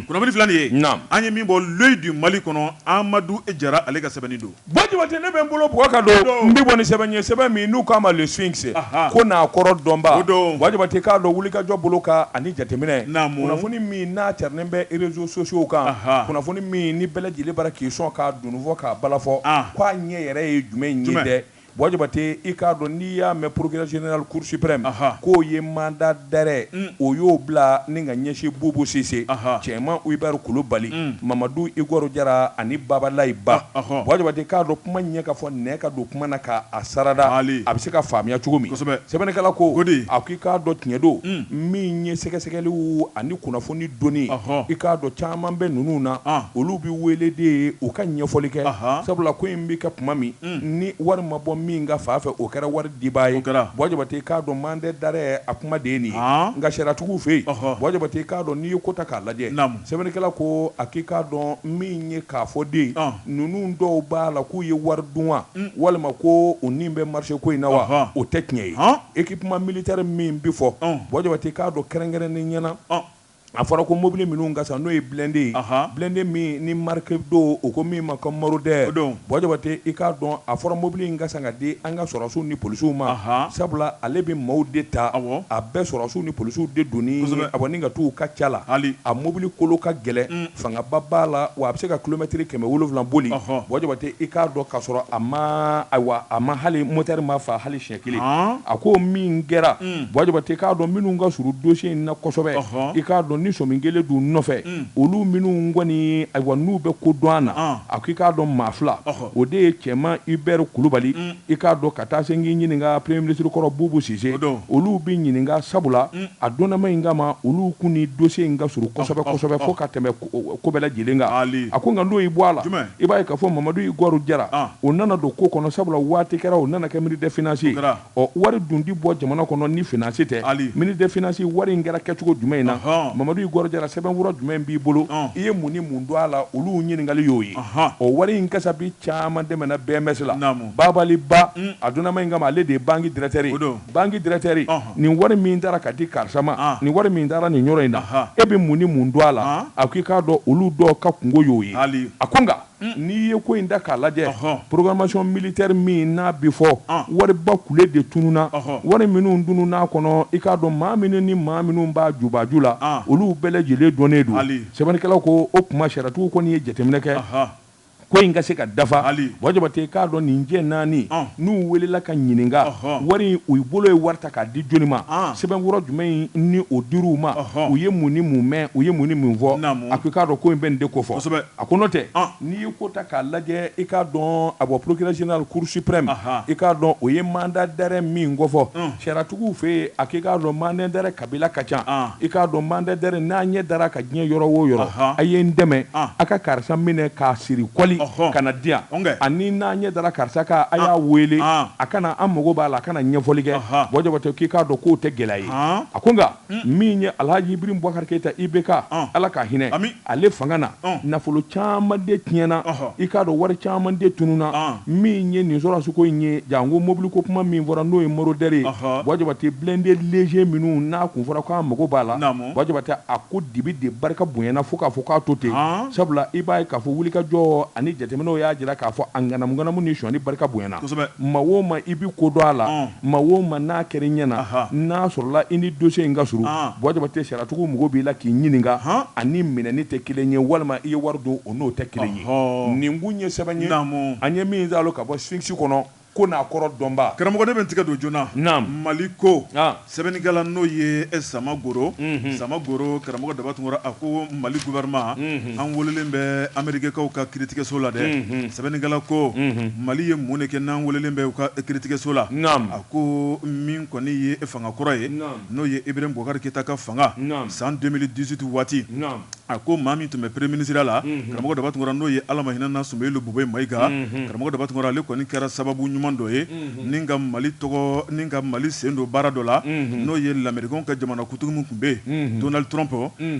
kunnafoni filɛ nin ye an ye min bɔ L'Œil du Mali kɔnɔ Amadu Jara ale ka sɛbɛnni don Bɔ Jabate ne bɛ n bolo bɔgɔ kan dɔrɔn n bɛ bɔ ni sɛbɛn ye sɛbɛn min n'u k'a ma le sphinx ko n'a kɔrɔ dɔnbaa o don Bɔ Jabate k'a dɔn wulikajɔ bolo kan ani jateminɛ kunnafoni min n'a carinen bɛ réseaux sociaux kan kunnafoni min ni bɛɛ lajɛlen bara k'i sɔn k'a dunun fɔ k'a bala fɔ k'a ɲɛ yɛrɛ ye jumɛn ye dɛ bɔ jabate i k'a dɔn n'i y'a mɛn procureur général cour suprême k'o ye mandat d'arrêt o y'o bila ni ka ɲɛsin bubu sise cɛman hubert kulubali mamadu igor jara ani babalayi ba bɔ jabate k'a dɔn kuma ɲɛ ka fɔ ne ka don kuma na k'a sarada a bɛ se ka faamuya cogo min sɛbɛnnikɛla ko a ko i k'a dɔn tiɲɛ don min ye sɛgɛsɛgɛli ani kunnafoni ni dɔnni i k'a dɔn caman bɛ ninnu na olu bɛ wele de ye u ka ɲɛfɔli kɛ sabula ko in bɛ kɛ tuma min ni wari ma bɔ min ka fan fɛ o kɛra wari diba ye bɔ jabate i k'a dɔn mandat d'arrêt a kuma de ye nin ye nka sariyatigiw fɛ yen bɔ jabate i k'a dɔn n'i ye ko ta k'a lajɛ sɛbɛnnikɛla ko a k'i k'a dɔn min ye k'a fɔ den ninnu dɔw b'a la k'u ye wari dun wa walima ko u ni bɛ marché ko in na wa o tɛ tiɲɛ ye Equipement militaire min bɛ fɔ, ɔn, Bɔ Jabate i k'a dɔn kɛrɛnkɛrɛnnenya na, ɔn, a fɔra ko mobili minnu ka san n'o ye blindé ye, anhan, blindé min ni marque don, u ko min ma ko Marauder, o don, Bɔ Jabate i k'a dɔn a fɔra mobili in ka san ka di an ka sɔrɔdasiw ni polisiw ma, anhan, sabula ale bɛ maaw de ta, awɔ, a bɛ sɔrɔdasiw ni polisiw de doni, kosɛbɛ, awɔ, ni ka t'u ka ca la, hali, a mobili kolo ka gɛlɛn, un, fangaba b'a la wa a bɛ se ka kilomɛtiri kɛmɛ wolonwula boli, ɔhɔ, Bɔ Jabate i k'a dɔn ka sɔrɔ a ma, ayiwa, a ma hali moteur ma fa hali siɲɛ kelen a ko min kɛra Buwa Jabate i k'a dɔn minnu ka suru dossier in na kosɛbɛ i k'a dɔn ni sɔmi kɛlen don nɔfɛ olu minnu kɔni ayiwa n'u bɛ ko dɔn a na a ko i k'a dɔn maa fila o de ye Cɛman Hubert Kulubali i k'a dɔn ka taa se k'i ɲininka premier ministre kɔrɔ Bubu Sise olu bɛ ɲininka sabula a donnama in kama olu kun ni dossier in ka suru kosɛbɛ fo ka tɛmɛ ko bɛɛ lajɛlen kan Ali a ko nka n'o y'i bɔ a la jumɛn i b'a ye k'a fɔ Mamadu Igor Jara an o nana don ko kɔnɔ sabula waati kɛra o nana kɛ ministre des finances ye kɛra ɔ wari dun ti bɔ jamana kɔnɔ ni finance tɛ Ali ministre des finances wari in kɛra kɛcogo jumɛn in na ɔnhɔn Mamadu Igor Jara sɛbɛnfura jumɛn b'i bolo ɔn i ye mun ni mun dɔn a la olu ɲininkali y'o ye ɔnhɔn ɔ wari in kasabi caman tɛmɛna BMS la naamu Babali Ba un a donnama in kama ale de ye banque directeur ye o don banque directeur nin wari min tara ka di karisa ma nin wari min taara nin yɔrɔ in na e bɛ mun ni mun dɔn a la a ko i k'a dɔn olu dɔw ka kungo y'o ye a ko nka n'i ye ko in ta k'a lajɛ programmation militaire min n'a bɛ fɔ wariba kulu de tununna wari minnu tununn'a kɔnɔ i k'a dɔn maa minnu ni maa minnu b'a jubaju la olu bɛɛ lajɛlen dɔnnen don sɛbɛnnikɛla ko o kuma sariyatigiw kɔni ye jateminɛ kɛ ko in ka se ka dafa Buwa Jabate i k'a dɔn nin cɛ naani n'u welela ka ɲininka wari u bolo ye wari ta k'a di jɔni ma sɛbɛnkɔrɔ jumɛn in ni o dir'u ma u ye mun ni mun mɛn u ye mun ni mun fɔ a ko i k'a dɔn ko in bɛ nin de kofɔ a ko n'o tɛ n'i ye ko ta k'a lajɛ i k'a dɔn a bɔ procureur général cour suprême i k'a dɔn o ye mandat d'arrêt min kofɔ sariyatigiw fɛ yen a k'i k'a dɔn mandat d'arrêt Kabila ka ca i k'a dɔn mandat d'arrêt n'a ɲɛ dar'a kan diɲɛ yɔrɔ wo yɔrɔ a ye n dɛmɛ a ka karisa minɛ k'a siri kɔli ka na di yan ani n'a ɲɛ dara karisa kan a y'a wele a ka na an mago b'a la a ka na ɲɛfɔli kɛ Buwa Jabate k'i k'a dɔn k'o tɛ gɛlɛya ye a ko nka min ye Alhaji Ibrahim Bubakari Keyita IBK Ala ka hinɛ Ale fanga na nafolo caman de tiɲɛna i k'a dɔn wari caman de tununna min ye nin sɔrɔdasiwko in ye janko mobili ko kuma min fɔra n'o ye Marauder ye Buwa Jabate blindé léger minnu n'a kun fɔra k'an mago b'a la Buwa Jabate a ko dibi de barika bonyana fo k'a fɔ k'a to ten sabula i b'a ye k'a fɔ wulikajɔ ani jateminɛw y'a jira k'a fɔ a ŋanamuŋanamu ni sonyani barika bonyana maa o maa i bɛ ko dɔn a la Maa o maa n'a kɛra i ɲɛ na, anhan, n'a sɔrɔla i ni dossier in ka surun, an, Buwa Jabate sariyatigiw mago b'i la k'i ɲininka, han, a ni minɛni tɛ kelen ye walima i ye wari dun o n'o tɛ kelen ye, ɔhɔɔ, nin kun ye sɛbɛn ye, naamu, an ye min zaalo ka bɔ Sphinx kɔnɔ ko n'a kɔrɔ dɔnbaa. Karamɔgɔ ne bɛ n tigɛ don joona, naamu, Mali ko, an, sɛbɛnnikɛla n'o ye Sama Goro, unhun, Sama Goro, karamɔgɔ Daba Tunkara a ko Mali gouvernement, unhun. An welelen bɛ Amerikikaw ka kiiritigɛso la dɛ, unhun, sɛbɛnnikɛla ko, unhun, Mali ye mun de kɛ n'an welelen bɛ u ka kiiritigɛso la, naamu, a ko min kɔni ye fanga kɔrɔ ye, naamu, n'o ye Ibrahim Boubacar Keita ka fanga, naamu, san 2018 waati, naamu, a ko maa min tun bɛ premier ministre ya la, unhun, karamɔgɔ Daba Tunkara n'o ye Ala ma hinɛ na Soumeylou Boubèye Maïga, unhun, karamɔgɔ Daba Tunkara ale kɔni kɛra sababu ɲuman dɔ ye. ni ka mali tɔgɔ ni ka mali sen don baara dɔ la n'o ye lamerikɛnw ka jamana kuntigi min tun bɛ yen Donald Trump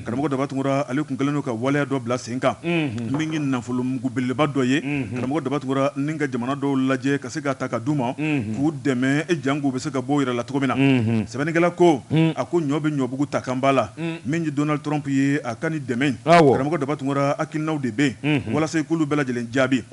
karamɔgɔ daba tunkara ale tun kɛlen don ka waleya dɔ bila sen kan min ye nafolomugu belebeleba dɔ ye karamɔgɔ daba tunkara ni ka jamana dɔw lajɛ ka se k'a ta k'a d'u ma k'u dɛmɛ e jank'u bɛ se ka bɔ yɛrɛ la cogo min na sɛbɛnnikɛla ko a ko ɲɔ bɛ ɲɔbugu ta kanba la min ye Donald Trump ye a ka ni dɛmɛ karamɔgɔ daba tunkara hakilinaw de bɛ yen walasa i k'olu bɛɛ lajɛlen jaabi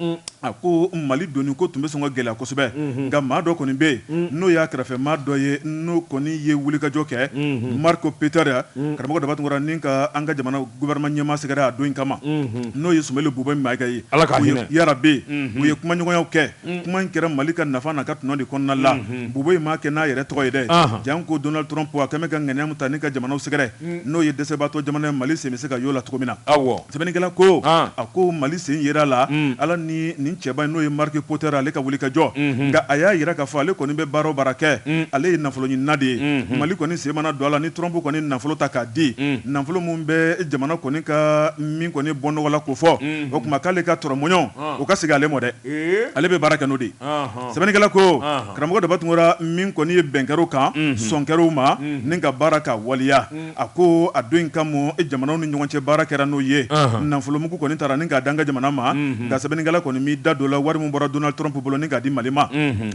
A ko Mali donni ko tun bɛ sɔn ka gɛlɛya kosɛbɛ, unhun, nka maa dɔ kɔni bɛ yen, un, n'o y'a kɛrɛfɛmaa dɔ ye n'o kɔni ye wulikajɔ kɛ, unhun, Marco Peter, un, karamɔgɔ Dabatunkara ni ka an ka jamana gouvernement ɲɛmaa sɛgɛrɛ a don in kama, unhun, n'o ye Sumeyilu Bubey Mayiga ye, Ala ka hinɛ, yarabi, unhun, u ye kumaɲɔgɔnyaw kɛ, un, kuma in kɛra Mali ka nafa n'a ka tɔnɔ de kɔnɔna la, unhun, Bubey m'a kɛ n'a yɛrɛ tɔgɔ ye dɛ, anhan, janko Donald Trump a tun bɛ ka ŋaniya min ta ni ka jamanaw sɛgɛrɛ n'o ye dɛsɛbaatɔ jamana ye mali sen bɛ se ka y'o la cogo min na aw sɛbɛnnikɛla ko a ko mali sen yera a la ala ni nin cɛba in n'o ye Marco Peter ale ka wulikajɔ nka a y'a jira k'a fɔ ale kɔni bɛ baara o baara kɛ ale ye nafolo ɲinina de ye mali kɔni sen mana don a la ni Trump kɔni nafolo ta k'a di nafolo min bɛ jamana kɔni ka min kɔni bɔ nɔgɔ la k'o fɔ o tuma k'ale ka tɔrɔmɔɲɔ o ka segin ale ma dɛ ale bɛ baara kɛ n'o de ye Sɛbɛnnikɛla ko karamɔgɔ daba tunkara min kɔni ye bɛn kɛr'o kan sɔn kɛr'o ma ni ka baara ka waliya a ko a don in kama jamanaw ni ɲɔgɔn cɛ baara kɛra n'o ye nafolomugu kɔni tara ni k'a d'an ka jamana ma nka sɛbɛnnikɛla kɔni m'i da don la wari min bɔra Donald Trump bolo ni k'a di mali ma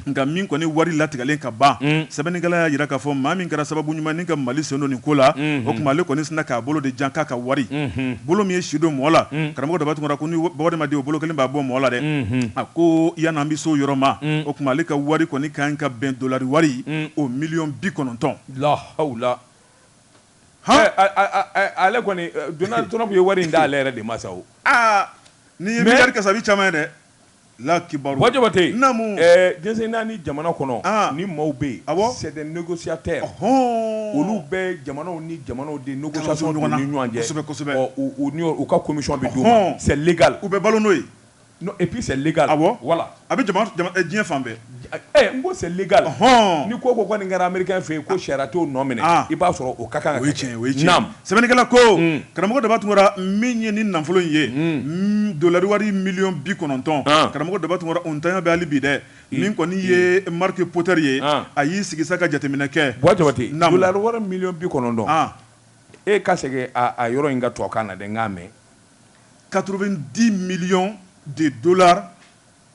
nka min kɔni wari latigɛlen ka ban sɛbɛnnikɛla y'a jira k'a fɔ maa min kɛra sababu ɲuman ni ka mali sen don nin ko la o tuma ale kɔni sinna k'a bolo de jan k'a ka wari bolo min ye si don mɔgɔ la karamɔgɔ daba tunkara ko ni bɔden ma di o bolo kelen b'a bɔ mɔgɔ la dɛ a ko yann'an bɛ se o yɔrɔ ma o tuma ale ka wari kɔni ka kan ka bɛn dɔlari wari o miliyɔn bi kɔnɔntɔn la hawla ale kɔni Donald Trump ye wari in d'ale yɛrɛ de ma sa aaa nin ye miliyari kasabi caman ye dɛ Late dese naani jamana kɔnɔ ni maaw bɛ yen a sɛ nɛgɛsiya tɛ olu bɛ jamanaw ni jamanaw de ni ɲɔgɔnsɛbɛ u ka komi bɛ seli u bɛ balo n'o ye n'o epsali wala a bɛ diɲɛ fan bɛɛ N ko c'est légal hɔn ni ko ko kɔni nin kɛra américain fɛ yen ko sariya t'o nɔ minɛ i b'a sɔrɔ o ka kan sɛbɛnnikɛla ko karamɔgɔ daba tunkara min ye ni nafolo in ye dɔlari wari miliyɔn bi kɔnɔntɔn karamɔgɔ daba tunkara o ntanya bɛ hali bi dɛ min kɔni ye Marco Peter ye a y'i sigi sa ka jateminɛ kɛ jabate dɔlari wari miliyɔn bi kɔnɔntɔn e ka segin yɔrɔ in kan tubabukan na dɛ n k'a mɛn quatre-vingt-dix millions de dollars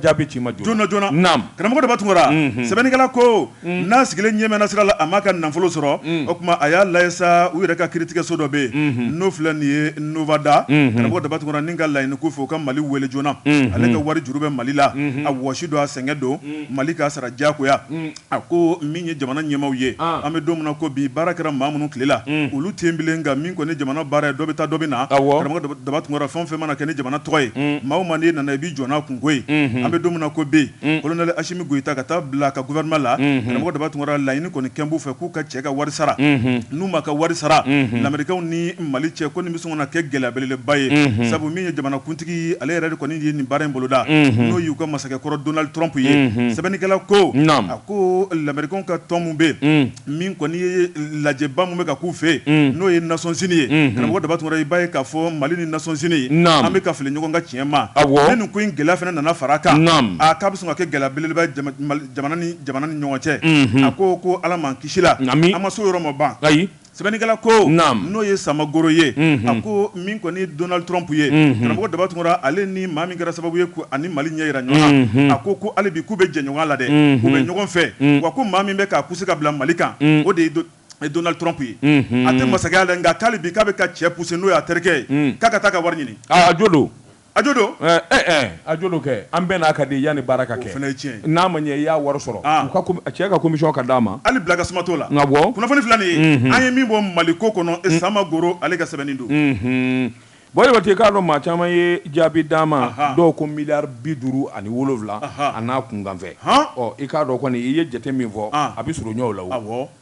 jaabi ci ma joona karamɔgɔ daba tunkara sɛbɛnnikɛla ko n'a sigilen ɲɛ mɛnna sira la a ma ka nafolo sɔrɔ o tuma a y'a lajɛ sa u yɛrɛ ka kiiritigɛso dɔ bɛ yen n'o filɛ nin ye nevada karamɔgɔ daba tunkara nin ka laɲini ko fɔ u ka mali weele joona ale ka wari juru bɛ mali la a wɔsi don a sɛgɛn don mali k'a sara jagoya A ko min ye jamana ɲɛmaaw ye an bɛ don min na ko bi baara kɛra maa minnu tile la olu tɛ yen bilen nka min kɔni jamana baara ye dɔ bɛ taa dɔ bɛ na karamɔgɔ daba tunkara fɛn o fɛn mana kɛ ni jamana tɔgɔ ye maa o maa n'i nana i b'i jɔ n'a kunko ye an bɛ don min na ko bi kolonɛli asimi goyita ka taa bila ka gouvernement la karamɔgɔ daba tunkara laɲini kɔni kɛlen b'u fɛ k'u ka cɛ ka wari sara n'u ma ka wari sara lamerikɛnw ni mali cɛ ko nin bɛ sɔn ka kɛ gɛlɛya belebeleba ye sabu min ye jamanakuntigi kuntigi ale yɛrɛ de kɔni ye nin baara in boloda n'o y'u ka masakɛ kɔrɔ donald trump ye sɛbɛnnikɛla ko a ko lamerikɛnw ka tɔn min bɛ yen min kɔni ye lajɛba min bɛ ka k'u fɛ yen n'o ye nations unies ye karamɔgɔ daba tunkara i b'a ye k'a fɔ mali ni nations unies an bɛ ka fili ɲɔgɔn ka tiɲɛ ma ni nin ko in gɛlɛya fana nana fara kan a k'a bɛ sɔn ka kɛ gɛlɛya belebeleba jamana ni ɲɔgɔn cɛ a ko ko ala m'an kisi la nka an ma s'o yɔrɔ ma ban ayi Sɛbɛnnikɛla ko n'o ye samagoro ye a ko min kɔni donald trump ye karamɔgɔ daba tunkara ale ni maa min kɛra sababu ye k'a ni mali ɲɛ jira ɲɔgɔn na a ko ko hali bi k'u bɛ jɛ ɲɔgɔn la dɛ u bɛ ɲɔgɔn fɛ wa ko maa min bɛ k'a poussé ka bila mali kan o de ye donald trump ye a tɛ masakɛya la nka ko hali bi k'a bɛ ka cɛ poussé n'o ye a terikɛ ye k'a ka taa ka wari ɲini a jo don a jo don a jo don kɛ an bɛɛ n'a ka di yanni baara ka kɛ o fana ye tiɲɛ ye n'a ma ɲɛ i y'a wari sɔrɔ cɛ ka commission ka d'a ma hali bila ka suma t'o la nka bɔ kunnafoni filɛ nin ye an ye min bɔ mali ko kɔnɔ samagoro ale ka sɛbɛnni don buwa jabate i k'a dɔn maa caman ye jaabi d'a ma dɔw ko miliyari bi duuru ani wolowula a n'a kunkanfɛ i k'a dɔn kɔni i ye jate min fɔ a bɛ surun ɲɔgɔn la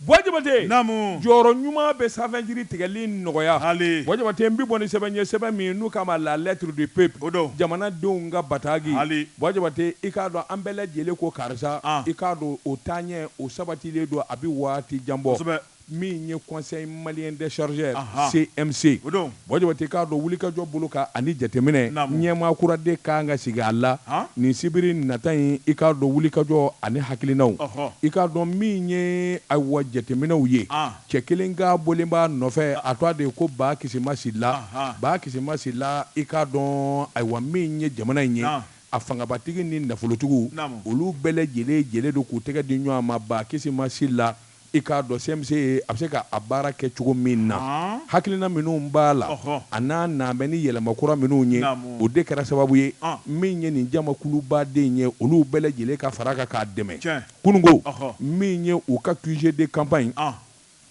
Buwa Jabate, naamu, jɔyɔrɔ ɲuman bɛ sanfɛ jiri tigɛli nɔgɔya, haali, Buwa Jabate n bɛ bɔ ni sɛbɛn ye sɛbɛn min n'u k'a ma la lettre du peuple, o don, jamana denw ka batagi, haali, Buwa Jabate i k'a dɔn an bɛɛ lajɛlen ko karisa, an, i k'a dɔn o taaɲɛ o sabatilen don a bɛ waati jan bɔ, kosɛbɛ, min ye conseil malien des chargeurs, anhan, CMC, o don. Buwa Jabate i k'a dɔn wulikajɔ bolo kan ani jateminɛ ɲɛmaa kura de ka kan ka sigi a la nin sibiri nata in, i k'a dɔn wulikajɔ ani hakilinaw, i k'a dɔn min ye ayiwa jateminɛw ye, cɛ kelen ka bɔlen b'a nɔfɛ a tɔa de ye ko Ba Kisima Sila, Ba Kisima Sila i k'a dɔn ayiwa min ye jamana in ye a fangabatigi ni nafolotigiw olu bɛɛ lajɛlen jɛlen don k'u tɛgɛ di ɲɔgɔn ma Ba Kisima Sila. I k'a dɔn CMC ye a bɛ se ka a baara kɛ cogo min na, hakilina minnu b'a la, a n'a nanen bɛ ni yɛlɛma kura minnu ye, o de kɛra sababu ye min ye nin jamakulubaden in ye olu bɛɛ lajɛlen ka fara a kan k'a dɛmɛ kununko, min ye u ka QG de campagne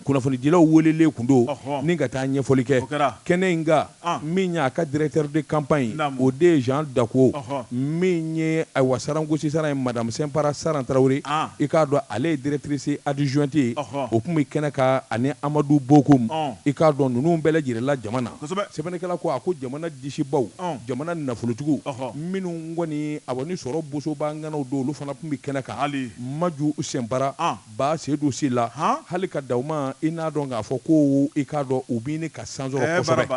kunnafonidilaw weelelen tun don ni ka taa ɲɛfɔli kɛ kɛnɛ in ka min ye a ka directeur de campagne ye, naamu, o de ye Jean Daco, ɔhɔ, min ye ayiwa Saran Gosi Saran ye madame Simpara Saran Tarawele, an, i k'a dɔn ale ye directrice adjointe ye, ɔhɔ, o tun bɛ kɛnɛ kan ani Amadu Bokum, ɔn, i k'a dɔn ninnu bɛɛ lajɛlen la jama na, kosɛbɛ, sɛbɛnnikɛla ko a ko jamana disibaw, ɔn, jamana nafolotigiw, ɔhɔ, minnu kɔni awa ni sɔrɔ boso b'a ŋanaw don olu fana tun bɛ kɛnɛ kan, hali, Maju Sɛnpara, an. Ba Seydou Sila hali ka da u ma i n'a dɔn k'a fɔ ko i k'a dɔn u bɛ ka san sɔrɔ kosɛbɛ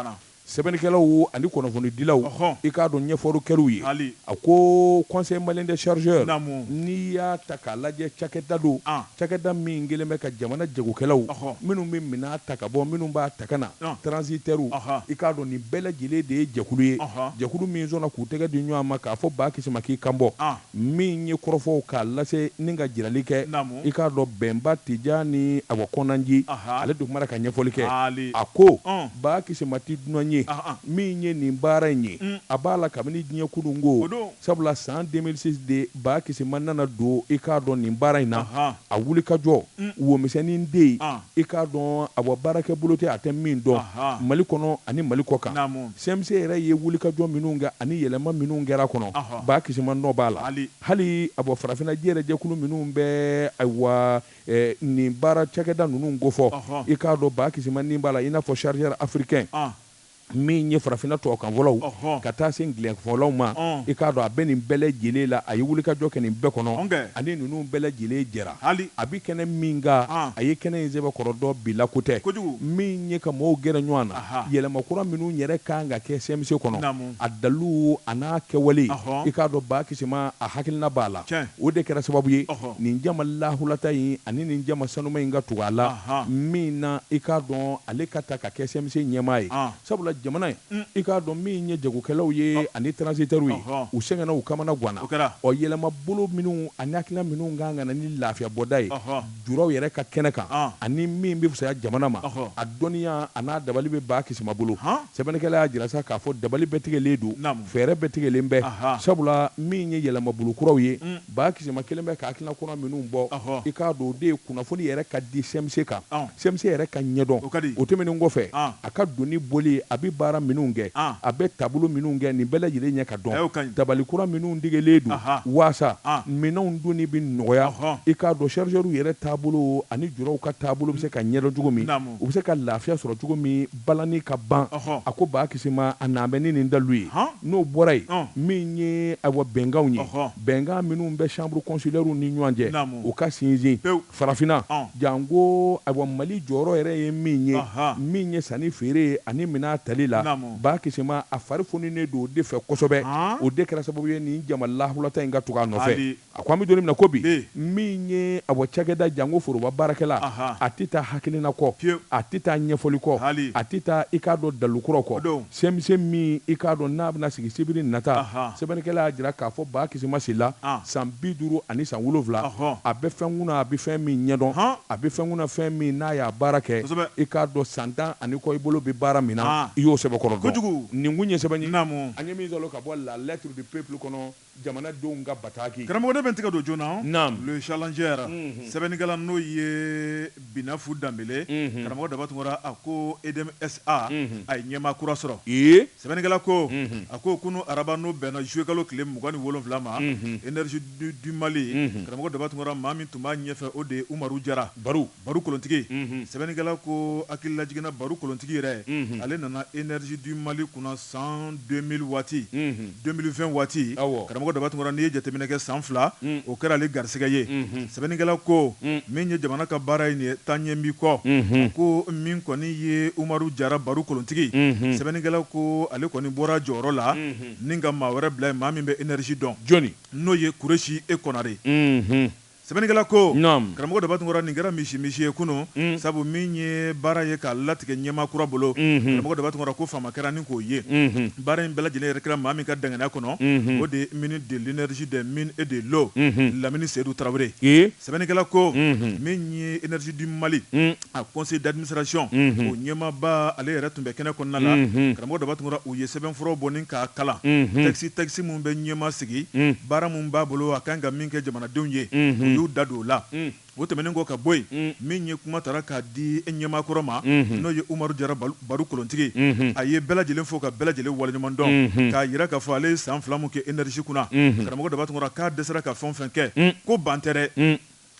sɛbɛnnikɛlaw ani kunnafonidilaw i k'a dɔn ɲɛfɔlikɛlaw ye a ko conseil malien des chargeurs n'i y'a ta k'a lajɛ cakɛda don cakɛda min kɛlen bɛ ka jamana jagokɛlaw minnu bɛ minɛn ta ka bɔ minnu b'a ta ka na transitaires i k'a dɔn nin bɛɛ lajɛlen de ye jɛkulu ye jɛkulu min sɔnna k'u tɛgɛ di ɲɔgɔn ma k'a fɔ Ba Kisima k'i kan bɔ Min ye kɔrɔfɔw k'a lase ni ka jirali kɛ, i k'a dɔn Bɛnba Tijani awa Kɔnanji, ale de kumana ka ɲɛfɔli kɛ, a ko, Ba Kisima tɛ dunan ye min ye nin baara in ye, a b'a la kabini diɲɛ kununko, sabula san 2006 de Ba Kisima nana don i k'a dɔn nin baara in na, a wulikajɔ, womisɛnnin den, i k'a dɔn awa baarakɛbolo tɛ a tɛ min dɔn Mali kɔnɔ ani Mali kɔkan. CMC yɛrɛ ye wulikajɔ minnu kɛ ani yɛlɛma minnu kɛra kɔnɔ, Ba Kisima nɔ b'a la. Hali a bɔ farafinna yɛrɛ jɛkulu minnu bɛ ayiwa nin baara cakɛda ninnu kofɔ, i k'a dɔn Ba Kisima ni b'a la, i n'a fɔ Chargeur africain min ye farafinna tubabukanfɔlaw ka taa se angilɛfɔlaw ma, i k'a dɔn a bɛ nin bɛɛ lajɛlen la, a ye wulikajɔ kɛ nin bɛɛ kɔnɔ ani ninnu bɛɛ lajɛlen jɛra. hali a bi kɛnɛ min kan, a ye kɛnɛ in sɛbɛkɔrɔ dɔn, bi la ko tɛ, min ye ka mɔɔw gɛrɛ ɲɔan na, yɛlɛma kura minnu yɛrɛ ka kan ka kɛ CMC kɔnɔ, a dalilu a n'a kɛwale, i k'a dɔn Ba Kisima a hakilina b'a la, o de kɛra sababu ye nin jama lahulata in ani nin jama sanuma in ka tugu a la, min na i k'a dɔn ale ka ta ka kɛ CMC ɲɛmaa ye, Sabula jamana in i k'a dɔn min ye jagokɛlaw ye ani transitaires ye u sɛgɛnna u kamana ganna ɔ yɛlɛma bolo minnu ani hakilina minnu kan ka na ni lafiya bɔda ye juraw yɛrɛ ka kɛnɛ kan ani min bɛ fisaya jamana ma a dɔnniya a n'a dabali bɛ Ba Kisima bolo sɛbɛnnikɛla y'a jira sa k'a fɔ dabali bɛɛ tigɛlen don fɛɛrɛ bɛɛ tigɛlen bɛ sabula min ye yɛlɛmabolo kuraw ye Ba Kisima kɛlen bɛ ka hakilina kura minnu bɔ, i k'a dɔn o de ye kunnafoni yɛrɛ ka di CMC kan, CMC yɛrɛ ka ɲɛdɔn, o tɛmɛnen kɔfɛ, a ka doni boli, a bɛ baara minnu kɛ, a bɛ taabolo minnu kɛ, nin bɛɛ lajɛlen ɲɛ ka dɔn, dabali kura minnu tigɛlen don waasa minɛnw donni bɛ nɔgɔya, i k'a dɔn chargeurs yɛrɛ taabolo ani juraw ka taabolo bɛ se ka ɲɛdɔn cogo min, u bɛ se ka lafiya sɔrɔ cogo min. balani ka ban, a ko Ba Kisima a na bɛ ni nin dalilu ye, n'o bɔra yen, min ye ayiwa bɛnkanw ye, bɛnkan minnu bɛ chambres consulaires ni ɲɔgɔn cɛ, u ka sinsin farafinna, janko ayiwa Mali jɔyɔrɔ yɛrɛ ye min ye, min ye sanni feere ani minɛn tali la, Ba Kisima a fari foninen don o de fɛ kosɛbɛ, o de kɛra sababu ye nin jama lahulata in ka tugu a nɔfɛ. A ko an bɛ don min na ko bi, min ye awɔ cakɛda janko foroba baarakɛla, a tɛ taa hakilina kɔ, a tɛ taa ɲɛfɔli kɔ, a tɛ taa i k'a dɔn dalilu kuraw kɔ. CMC min i k'a dɔn n'a bɛna sigi sibiri nata, sɛbɛnnikɛla y'a jira k'a fɔ Ba Kisima Sila san bi duuru ani san wolonwula, a bɛ fɛn kunna a bɛ fɛn min ɲɛdɔn, a bɛ fɛn kunna fɛn min n'a y'a baara kɛ, i k'a dɔn san tan ani kɔ i bolo bɛ baara min na i y'o sɛbɛkɔrɔ dɔn. Nin kun ye sɛbɛn ye an ye min sɔrɔ ka bɔ La Lettre du Peuple kɔnɔ. Jamanadenw ka bataki. Karamɔgɔ ne bɛ n tɛgɛ don joona Naamu. Le Challenger sɛbɛnnikɛla n'o ye Binafu Danbele, karamɔgɔ Daba Tunkara a ko EDM SA a ye ɲɛmaa kura sɔrɔ. Ee! Sɛbɛnnikɛla ko a ko kunu araba n'o bɛnna juillet kalo tile mugan ni wolonwula ma, Energie du Mali, karamɔgɔ Daba Tunkara maa min tun b'a ɲɛfɛ o de ye Umaru Jara. Baru. Baru kolontigi, unhun, sɛbɛnnikɛla ko hakililajigin na Baru kolontigi yɛrɛ, unhun, ale nana Energie du Mali kunna san 2000 waati, unhun, 2020 waati, awɔ, karamɔgɔ Daba Tunkara n'i ye jateminɛ kɛ san fila, un, o kɛra ale garisɛgɛ ye, unhun, sɛbɛnnikɛla ko, un, min ye jamana ka baara ye nin ye taa ɲɛ n b'i kɔ, unhun, a ko min kɔni ye Umaru Jara Baru kolontigi, unhun, sɛbɛnnikɛla ko ale kɔni bɔra a jɔyɔrɔ la, unhun, ni ka maa wɛrɛ bila yen maa min bɛ Energie dɔn, jɔni? n'o ye Kuresi E Kɔnare. Unhun. Sɛbɛnnikɛla ko, Naamu, Karamɔgɔ Dabatungura, nin kɛra misi-misi ye kunun, sabu min ye baara ye k'a latigɛ ɲɛmaa kura bolo, Karamɔgɔ Daba Tunkara ko faama kɛra ni k'o ye. Baara in bɛɛ lajɛlen yɛrɛ kɛra maa min ka danganiya kɔnɔ, o de ye ministre de l'energie, des mines et de l'eau, Lamini Seyidu Tarawele ye. Sɛbɛnnikɛla ko, Min ye Energie du Mali A conseil d'administration o ɲɛmaaba ale yɛrɛ tun bɛ kɛnɛ kɔnɔna la karamɔgɔ Daba Tunkara u ye sɛbɛnfura bɔ ni k'a kalan texte texte minnu bɛ ɲɛmaa sigi baara minnu b'a bolo a kan ka min kɛ jamanadenw ye u y'u da don o la o tɛmɛnen kɔ ka bɔ yen min ye kuma tara k'a di ɲɛmaa kɔrɔ ma n'o ye Umaru Jara Baru kolontigi a ye bɛɛ lajɛlen fo ka bɛɛ lajɛlen waleɲumandɔn k'a jira k'a fɔ ale ye san fila min kɛ Energie kunna karamɔgɔ Daba Tunkara k'a dɛsɛra ka fɛn fɛn kɛ ko ban tɛ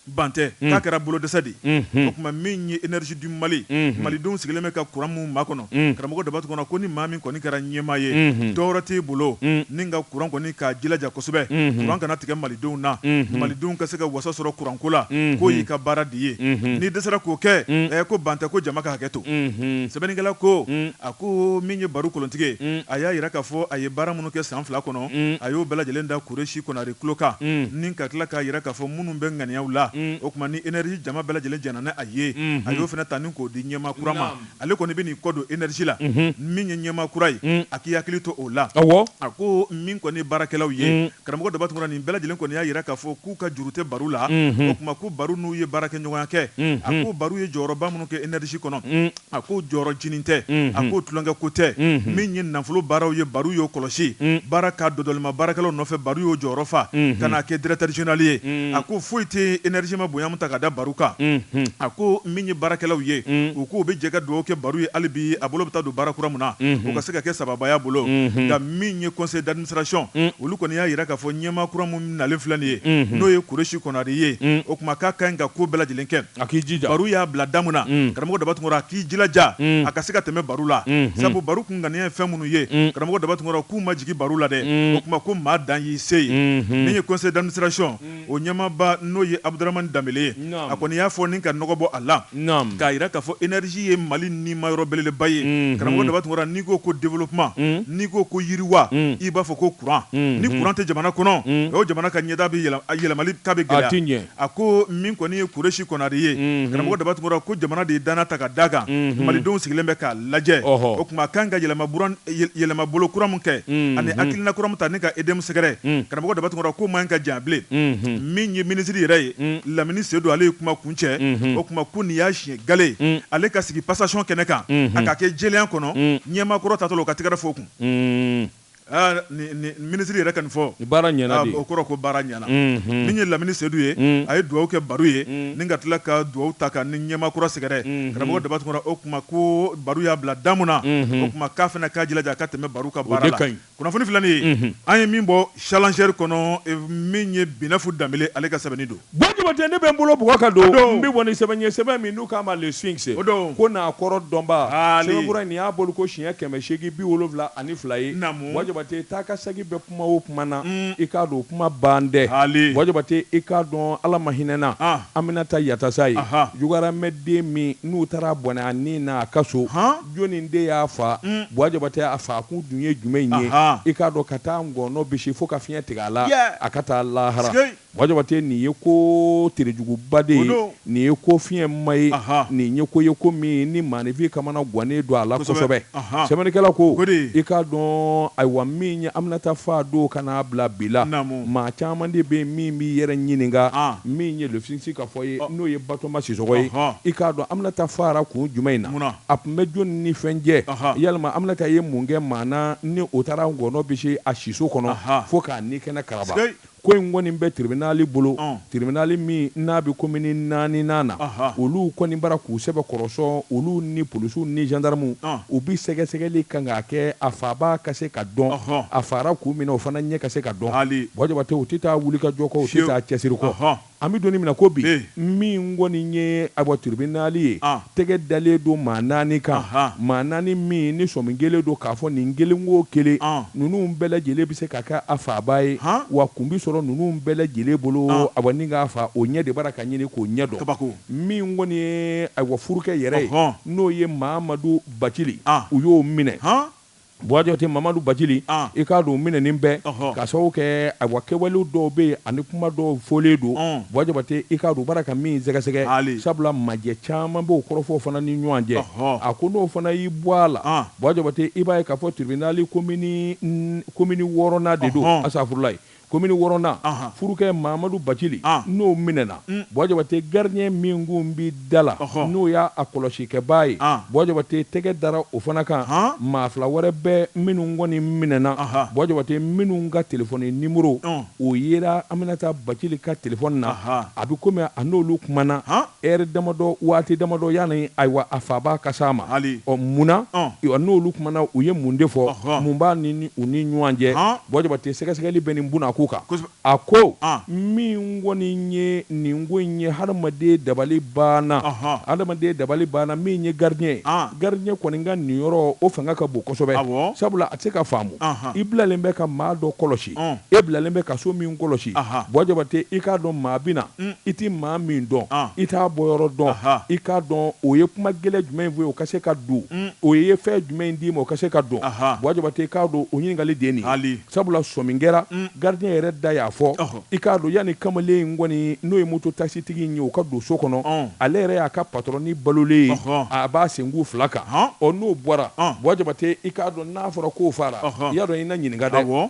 ban tɛ, un, k'a kɛra bolodɛsɛ de ye, unhun, o tuma min ye Energie du Mali, unhun, Malidenw sigilen bɛ ka courant min makɔnɔ, un, karamɔgɔ Daba Tunkara ko ni maa min kɔni kɛra ɲɛmaa ye, unhun, dɔ wɛrɛ t'i bolo, un, ni ka courant kɔni k'a jilaja kosɛbɛ, unhun, courant kana tigɛ Malidenw na, unhun, Malidenw ka se ka wasa sɔrɔ courant ko la, unhun, k'o y'i ka baara de ye, unhun, n'i dɛsɛra k'o kɛ, un, ɛɛ ko ban tɛ ko jama ka hakɛ to, unhun, sɛbɛnnikɛla ko, un, a ko min ye Baru kolontigi ye, un, a y'a jira k'a fɔ a ye baara minnu kɛ san fila kɔnɔ, un, a y'o bɛɛ lajɛlen da Kuresi Konare tulo kan ni ka tila k'a yira k'a fɔ minnu bɛ ŋaniyaw la, o kuma ni energie jama bɛɛ lajɛlen jɛnna ni a ye, a y'o fana ta ni k'o di ɲɛmaa kura ma, ale kɔni bɛna i kɔ don energie la, min ye ɲɛmaa kura ye, a k'i hakili to o la, a ko min kɔni ye baarakɛlaw ye, karamɔgɔ Daba Tunkara nin bɛɛ lajɛlen kɔni y'a yira k'a fɔ k'u ka juru tɛ Baru la, o kuma ko Baru n'u ye baarakɛɲɔgɔnya kɛ, a ko Baru ye jɔyɔrɔba minnu kɛ energie kɔnɔ A ko jɔyɔrɔ jinin tɛ, a ko tulonkɛ ko tɛ, min ye nafolo baaraw ye Baru y'o kɔlɔsi, baara ka dɔdɔlima baarakɛlaw nɔfɛ Baru y'o jɔyɔrɔ fa ka n'a kɛ directeur general ye, a ko foyi tɛ energie ma bonya min ta ka da Baru kan, a ko min ye baarakɛlaw ye u k'u bɛ jɛ ka dugawu kɛ Baru ye hali bi a bolo bɛ taa don baara kura min na o ka se ka kɛ sababu y'a bolo, nka min ye conseil d'administration olu kɔni y'a yira k'a fɔ ɲɛmaa kura min nalen filɛ nin ye n'o ye Kuresi Konare ye o kuma k'a ka ɲi ka ko bɛɛ lajɛlen kɛ. A k'i jija Baru y'a bila da min na karamɔgɔ Daba Tunkara a k'i jilaja a ka se ka tɛmɛ Baru la sabu Baru kun ŋaniya ye fɛn minnu ye karamɔgɔ Daba Tunkara k'u ma jigin Baru la dɛ o kuma ko maa dan y'i se ye min ye conseil d'administration o ɲɛmaaba n'o ye Abuduramani Danbele ye a kɔni y'a fɔ ni ka nɔgɔ bɔ a la k'a yira k'a fɔ energie ye Mali nimayɔrɔ belebeleba ye karamɔgɔ Daba Tunkara n'i ko ko développement n'i ko ko yiriwa i b'a fɔ ko kuran ni kuran tɛ jamana kɔnɔ o jamana ka ɲɛda bɛ yɛlɛma ta bɛ gɛlɛya A ko min kɔni ye Kuresi Konare ye, unhun, karamɔgɔ Daba Tunkara ko jamana de ye danaya ta ka d'a kan, unhun, malidenw sigilen bɛ k'a lajɛ, ɔhɔ, o kuma a ka kan ka yɛlɛmabolo kura min kɛ, unhun, ani hakilina kura min ta ni ka EDM sɛgɛrɛ, un, karamɔgɔ Daba Tunkara k'o man ɲi ka janya bilen, unhun, min ye minisiri yɛrɛ ye, un, Lamini Sedu ale ye kuma kuncɛ, unhun, o kuma ko nin y'a siɲɛ gale ye, un, ale ka sigi passation kɛnɛ kan, unhun, a ka kɛ jɛlenya kɔnɔ, un, ɲɛmaakɔrɔ taatɔ la o ka tɛgɛrɛ fɔ o kun. Minisiri yɛrɛ ka nin fɔ baara o kɔrɔ ko baara ɲɛna min ye lamini sedu ye a ye dugawu kɛ Baru ye ni ka tila ka dugawu ta ka ni ɲɛmaa kura sɛgɛrɛ karamɔgɔ Daba Tunkara o kuma ko Baru y'a bila da min na o kuma k'a fana k'a jilaja ka tɛmɛ Baru ka baara la kunnafoni filɛ nin ye an ye min bɔ Challenger kɔnɔ min ye Binɛfu Danbele ale ka sɛbɛnni don Bɔ Jabate ne bɛ n bolo bugɔ ka don n bɛ bɔ sɛbɛn ɲɛ sɛbɛn min n'u k'a ma le Sphinx ko n'a kɔrɔ dɔnba sɛbɛnkura nin y'a bolo ko siɲɛ kɛmɛ seegin bi wolowula ani fila ye Bɔ Jabate taa ka sagin bɛ kuma o kuma na i k'a dɔn o kuma ban dɛ Bɔ Jabate i k'a dɔn Ala ma hinɛna Aminata Yatasaye Jugaramɛ den min n'u taara bɔnɛ a ni na a ka so jɔnni de y'a fa Bɔ Jabate a fa kun dun ye jumɛn ye i k'a dɔn ka taa ngɔnɔ bisi fo ka fiɲɛ tigɛ a la a ka taa lahara Buwa Jabate nin ye ko terejuguba de ye, nin ye ko fiɲɛma ye, nin ye ko ye ko min ni maaninfin kamana gwannen don a la kosɛbɛ. Sɛbɛnnikɛla ko, I k'a dɔn, ayiwa, min ye Aminata faa don ka n'a bila bi la, maa caman de bɛ yen min b'i yɛrɛ ɲininka min ye Lefisi ka fɔ ye, n'o ye Batoma Sisɔkɔ ye. I k'a dɔn Aminata faara kun jumɛn in na? A tun bɛ jɔni ni fɛn cɛ? Yalima Aminata ye mun kɛ maa na ni o taara ngɔɔnɔ bisi a siso kɔnɔ fo k'a nikɛnɛ karaba? Ko in kɔni bɛ tiribinali bolo, tiribinali min n'a bɛ komini naaninan na, olu kɔni b'a ra k'u sɛbɛ kɔrɔsɔn, olu ni polisiw ni zandaramuw, u bɛ sɛgɛsɛgɛli kan k'a kɛ a faabaa ka se ka dɔn, a faara kun min na o fana ɲɛ ka se ka dɔn, Buwa Jabate, u tɛ taa wulikajɔ kɔ, u tɛ taa cɛsiri kɔ. An bɛ don in min na i ko bi, min kɔni ye ayiwa tiribinali ye tɛgɛ dalen don maa naani kan, maa naani min ni sɔmi kɛlen don k'a fɔ nin kelen o kelen ninnu bɛɛ lajɛlen bɛ se ka kɛ a faabaa ye, wa kun bɛ sɔrɔ ninnu bɛɛ lajɛlen bolo ayiwa ni k'a faa o ɲɛ de b'a ra ka ɲini k'o ɲɛ dɔn, kabako, min kɔni ye ayiwa furukɛ yɛrɛ ye n'o ye Mamadu Bacili u y'o minɛ. Buwa Jabate Mamadu Bacili i k'a dɔn minɛni in bɛ k'a sababu kɛ ayiwa kɛwale dɔw bɛ yen ani kuma dɔw fɔlen don Buwa Jabate i k'a dɔn b'a ra ka min sɛgɛsɛgɛ hali sabula majɛ caman b'o kɔrɔfɔ fana ni ɲɔgɔn cɛ a ko n'o fana y'i bɔ a la Buwa Jabate i b'a ye k'a fɔ tiribinali komini wɔɔrɔnan de don asafurulayi Komini Wɔɔrɔnan, furukɛ Mamadu Bacili, n'o minɛna, Buwa Jabate gardien min kun bɛ da la, n'o y'a kɔlɔsikɛbaa ye, Buwa Jabate tɛgɛ dara o fana kan. Maa fila wɛrɛ bɛ minnu kɔni minɛna, Buwa Jabate minnu ka telefɔni nimoro, o yera Aminata Bacili ka telefɔni na, a bɛ komi a n'olu kumana. Heure damadɔ, waati damadɔ yani ayiwa a faabaa ka s'a ma. Hali. Ɔ mun na? Ɔn! N'olu kumana, u ye mun de fɔ? Ɔhɔn! Mun b'a ni ni u ni ɲuwan cɛ? Ɔn! Buwa Jabate sɛgɛsɛgɛli bɛ nin bunakun kan. Kosɛbɛ! A ko, An! Min kɔni ye nin ko in ye, hadamaden dabali banna. Ɔhɔn! Hadamaden dabali banna min ye gardien ye. An! Gardien kɔni ka nin yɔrɔ, o fanga ka bon kosɛbɛ. Awɔ! Sabula a tɛ se ka faamu. Anhan! I bilalen bɛ ka maa dɔ kɔlɔsi. e bilalen bɛ ka so min kɔlɔsi Buwa Jabate i k'a dɔn maa bɛ na i tɛ maa min dɔn i t'a bɔyɔrɔ dɔn i k'a dɔn o ye kuma gɛlɛn jumɛn in fɔ i ye o ka se ka don o ye fɛn jumɛn in d'i ma o ka se ka don Buwa Jabate i k'a dɔn o ɲininkali de ye nin hali sabula sɔmi kɛra gardien yɛrɛ da y'a fɔ i k'a dɔn yanni kamalen in kɔni n'o ye moto taksitigi in ye o ka don so kɔnɔ ale yɛrɛ y'a ka patɔrɔn in balolen ye a b'a senku fila kan ɔ n'o bɔra Buwa Jabate i k'a dɔn n'a fɔra k'o faara i y'a dɔn i na ɲininka dɛ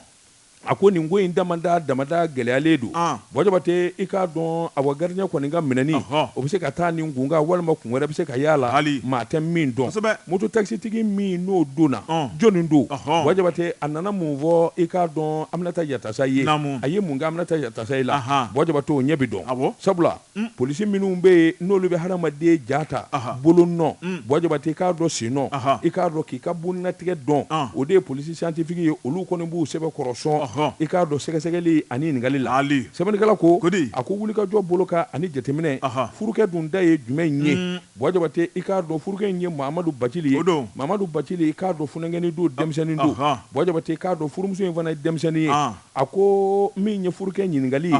a ko nin ko in damada damada gɛlɛyalen don Buwa Jabate i k'a dɔn awa gardien kɔni ka minɛni o bɛ se ka taa nin kun kan walima kun wɛrɛ bɛ se ka y'a la maa tɛ min dɔn mototakisitigi min n'o donna jɔnni don Buwa Jabate a nana mun fɔ i k'a dɔn Aminata Yatasayi a ye mun kɛ Aminata Yatasayi la Buwa Jabate o ɲɛ bɛ dɔn sabula Polisi minnu bɛ yen n'olu bɛ hadamaden ja ta bolo nɔ Buwa Jabate i k'a dɔn sen nɔ i k'a dɔn k'i ka boninatigɛ dɔn o de ye polisi siyantifiki ye olu kɔni b'u sɛbɛkɔrɔ sɔn i k'a dɔn sɛgɛsɛgɛli ani ɲininkali la sɛbɛnnikɛla ko a ko wulikajɔ bolo kan ani jateminɛ furukɛ dun da ye jumɛn ye Buwa Jabate i k'a dɔn furukɛ in ye Mamadu Bacili ye Mamadu Bacili i k'a dɔn funankɛnin don denmisɛnnin don Buwa Jabate i k'a dɔn furumuso in fana ye denmisɛnnin ye A ko min ye furukɛ ɲininkali,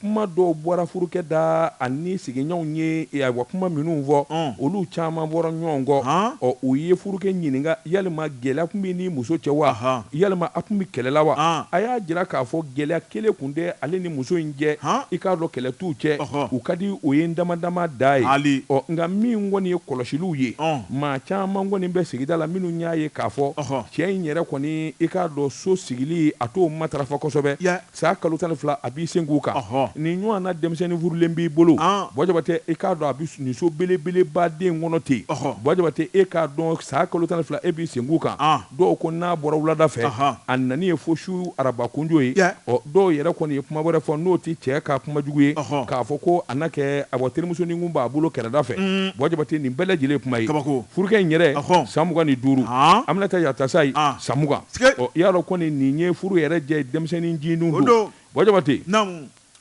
kuma dɔw bɔra furukɛ da, ani sigiɲɔɔnw ye ayiwa kuma minnu fɔ, olu caman bɔra ɲɔɔn kɔ. Ɔ u ye furukɛ ɲininka yalima gɛlɛya tun bɛ ni muso cɛ wa? Yalima a tun bɛ kɛlɛ la wa? A y'a jira k'a fɔ gɛlɛya kelen tun tɛ ale ni muso in cɛ, i k'a dɔn kɛlɛ t'u cɛ, u ka di o ye damadama da ye. Ɔ nka min kɔni ye kɔlɔsiliw ye, maa caman kɔni bɛ sigida la minnu y'a ye k'a fɔ, Cɛ in yɛrɛ kɔni i k'a dɔn so sigili a t'o matarafa kosɛbɛ, san kalo tan ni fila a b'i senkun kan, nin ɲɔgɔn na denmisɛnnin furulen b'i bolo, Buwa Jabate i k'a dɔn a bɛ nin so belebeleba de in kɔnɔ ten, Buwa Jabate e k'a dɔn san kalo tan ni fila e b'i senkun kan, dɔw ko n'a bɔra wulada fɛ a nani ye fo su arabakunjo ye ɔ dɔw yɛrɛ kɔni ye kuma wɛrɛ fɔ n'o tɛ cɛ ka kuma jugu ye k'a fɔ ko a na kɛ a terimusonin kun b'a bolo kɛrɛda fɛ Buwa Jabate nin bɛɛ lajɛlen kuma ye furukɛ in yɛrɛ san mugan ni duuru Aminata Yatasayi san mugan i y'a dɔn kɔni nin ye furu yɛrɛ jɛ denmisɛnnin ncinin don Buwa Jabate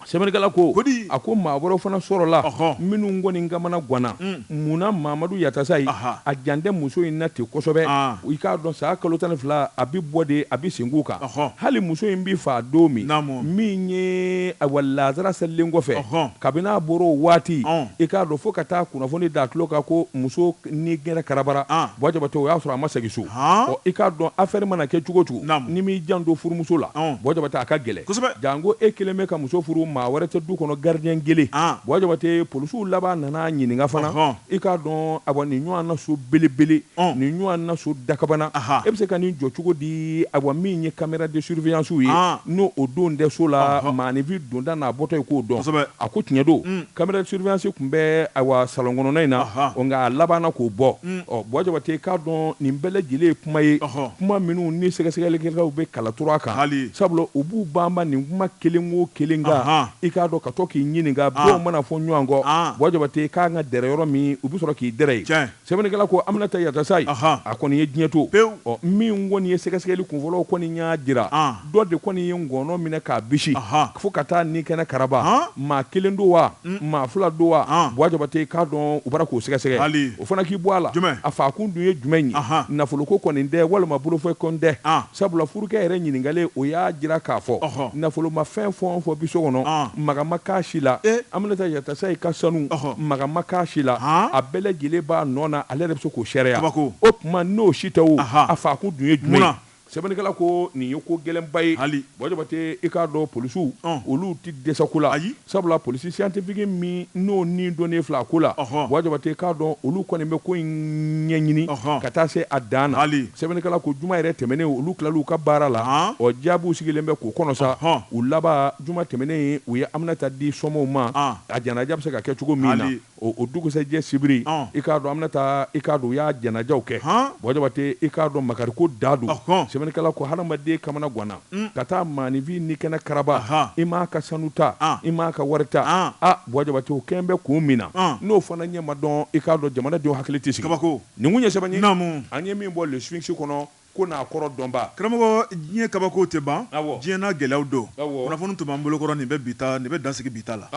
Sɛbɛnnikɛla ko, ko di? A ko maa wɛrɛw fana sɔrɔla, ɔhɔ, minnu kɔni kamana ganna, un, mun na Mamadu Yatasayi, aha, a jan tɛ muso in na ten kosɛbɛ, an, i k'a dɔn san kalo tan ni fila a bɛ bɔ de, a bɛ senkun kan, ɔhɔ, hali muso in bɛ faa don min, naamu, min ye ayiwa laazara selilen kɔfɛ, ɔhɔ, kabini a bɔra o waati, ɔn, i k'a dɔn fo ka taa kunnafoni da a tulo kan ko muso Ni kɛnɛ karabara Buwa Jabate o y'a sɔrɔ a ma segin so i k'a dɔn afɛri mana kɛ cogo cogo ni m'i jan don furumuso la Buwa Jabate a ka gɛlɛn janko e kelen bɛ ka muso furu maa wɛrɛ tɛ du kɔnɔ gardien kelen Buwa Jabate polisiw laban nana ɲininka fana i k'a dɔn a wa nin ɲɔgɔn na so belebele nin ɲɔgɔn na so dakabana e bɛ se ka nin jɔ cogo di a wa min ye caméra de surveillancew ye n'o o don tɛ so la maaninfin donda n'a bɔtɔ ye k'o dɔn a ko tiɲɛ don Caméra de surveillance tun bɛ ayiwa salon kɔnɔna in na nka a labanna k'o bɔ ɔ Buwa Jabate k'a dɔn nin bɛɛ lajɛlen ye kuma ye kuma minnu ni sɛgɛsɛgɛlikɛlaw bɛ kala turu a kan sabula u b'u banba nin kuma kelen wo kelen kan i k'a dɔn ka to k'i ɲininka daw mana fɔ ɲɔgɔn kɔ Buwa Jabate k'an ka dɛrɛ yɔrɔ min u bɛ sɔrɔ k'i dɛrɛ ye Sɛbɛnnikɛla ko Aminata Yatasayi, ɔnhɔn, a kɔni ye diɲɛ to, pewu, ɔ min kɔni ye sɛgɛsɛgɛli kunfɔlɔw kɔni y'a jira, an, dɔ de kɔni ye ngɔnɔ minɛ k'a bisi, ɔnhɔn, fo ka taa ni kɛnɛ karaba, an, maa kelen don wa, un, maa fila don wa, an, Buwa Jabate k'a dɔn u bara k'o sɛgɛsɛgɛ, hali, o fana k'i bɔ a la, jumɛn, a faakun dun ye jumɛn ye, anhan, nafoloko kɔni tɛ walima bolofɛn kɔni tɛ, an. Sabula furukɛ yɛrɛ ɲininkalen, o y'a jira k'a fɔ, ɔhɔ, nafolomafɛn fɛn o fɛn bɛ so kɔnɔ, an, maga ma k'a si la, e! Aminata Yatasayi ka sanu, ɔhɔ, maga ma k'a si la, han, a bɛɛ lajɛlen b'a nɔ na, ale yɛrɛ bɛ se k'o seereya, kabako, o tuma n'o si tɛ wo, aha, a faakun dun ye jumɛn ye? Munna? Sɛbɛnnikɛla ko nin ye ko gɛlɛnba ye, hali, Buwa Jabate, i k'a dɔn polisiw, ɔn, olu tɛ dɛsɛ ko la, ayi. Sabula polisi siyantifiki min n'o ni donnen filɛ a ko la, ɔhɔ, Buwa Jabate k'a dɔn olu kɔni bɛ ko in ɲɛɲini, ɔhɔ, ka taa se a dan na, hali, sɛbɛnnikɛla ko juma yɛrɛ tɛmɛnen olu tilala u ka baara la, an, o jaabiw sigilen bɛ k'o kɔnɔ sa, ɔhɔ, u laban juma tɛmɛnen u ye Aminata di somɔɔw ma, an, a janaja bɛ se ka kɛ cogo min na. Hali. O dugusɛjɛ sibiri i k'a dɔn Aminata i k'a dɔn u y'a janajaw kɛ Buwa Jabate i k'a dɔn makariko dan don sɛbɛnnikɛla ko hadamaden kamanaganna ka taa maaninfin ni kɛnɛ karaba i m'a ka sanu ta i m'a ka wari ta a Buwa Jabate o kɛlen bɛ kun min na n'o fana ɲɛ ma dɔn i k'a dɔn jamanadenw hakili tɛ sigi kabako nin ye sɛbɛn ye naamu an ye min bɔ Le Sphinx kɔnɔ ko n'a kɔrɔ dɔnba karamɔgɔ diɲɛ kabako tɛ ban diɲɛ n'a gɛlɛyaw don kunnafoni tun b'an bolokɔrɔ nin bɛ bi nin bɛ dan sigi bi ta la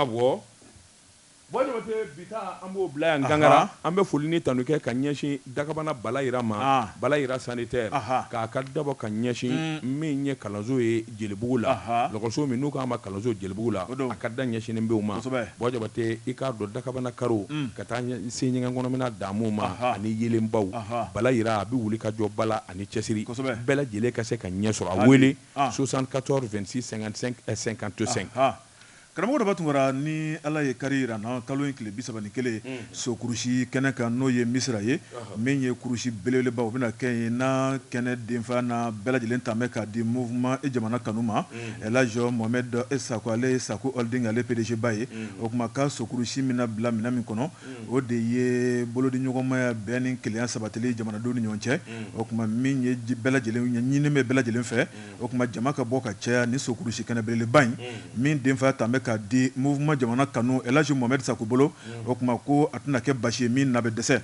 Buwa Jabate bi ta an b'o bila yan Gangara an bɛ foli ni tanu kɛ ka ɲɛsin Dakabana Bala Yira ma Bala Yira sanitaire k'a ka dabɔ ka ɲɛsin min ye kalanso ye Jelibugu la lɔgɔso min n'u k'a ma kalanso Jelibugu la a ka da ɲɛsinnen bɛ o ma Buwa Jabate i k'a dɔn dakabana karo ka taa se ɲɛgɛn kɔnɔ minɛn damu ma ani yeelenbaw Bala Yira a bɛ wulikajɔba la ani cɛsiri bɛɛ lajɛlen ka se ka ɲɛ sɔrɔ a wele soixante-quatorze vingt-six cinquante-cinq Karamɔgɔ Daba Tunkara, ni Ala ye kari jira an na, kalo in tile bi saba ni kelen, sokurusi kɛnɛ kan, n'o ye Misira ye, min ye kurusi belebeleba, o bɛna kɛ yen, n'a kɛnɛ denfaya n'a bɛɛ lajɛlen talen bɛ k'a di Mouvement i jamana kanu ma, El Hadj Mohamed Sako, ale ye Sako Holding ale PDG ba ye, o tuma ka sokurusi min na bila minɛn min kɔnɔ, o de ye bolodiɲɔgɔnmaya, bɛn ni kelenya sabatili jamanadenw ni ɲɔgɔn cɛ, o tuma min ye bɛɛ lajɛlen ɲininen bɛ bɛɛ lajɛlen fɛ. O tuma jama ka bɔ ka caya nin sokurusi kɛnɛ belebeleba in min denfa talen bɛ k'a di Mouvement jamana kanu El Hadj Mohamed Sako bolo o tuma ko a tɛna kɛ basi ye min na bɛ dɛsɛ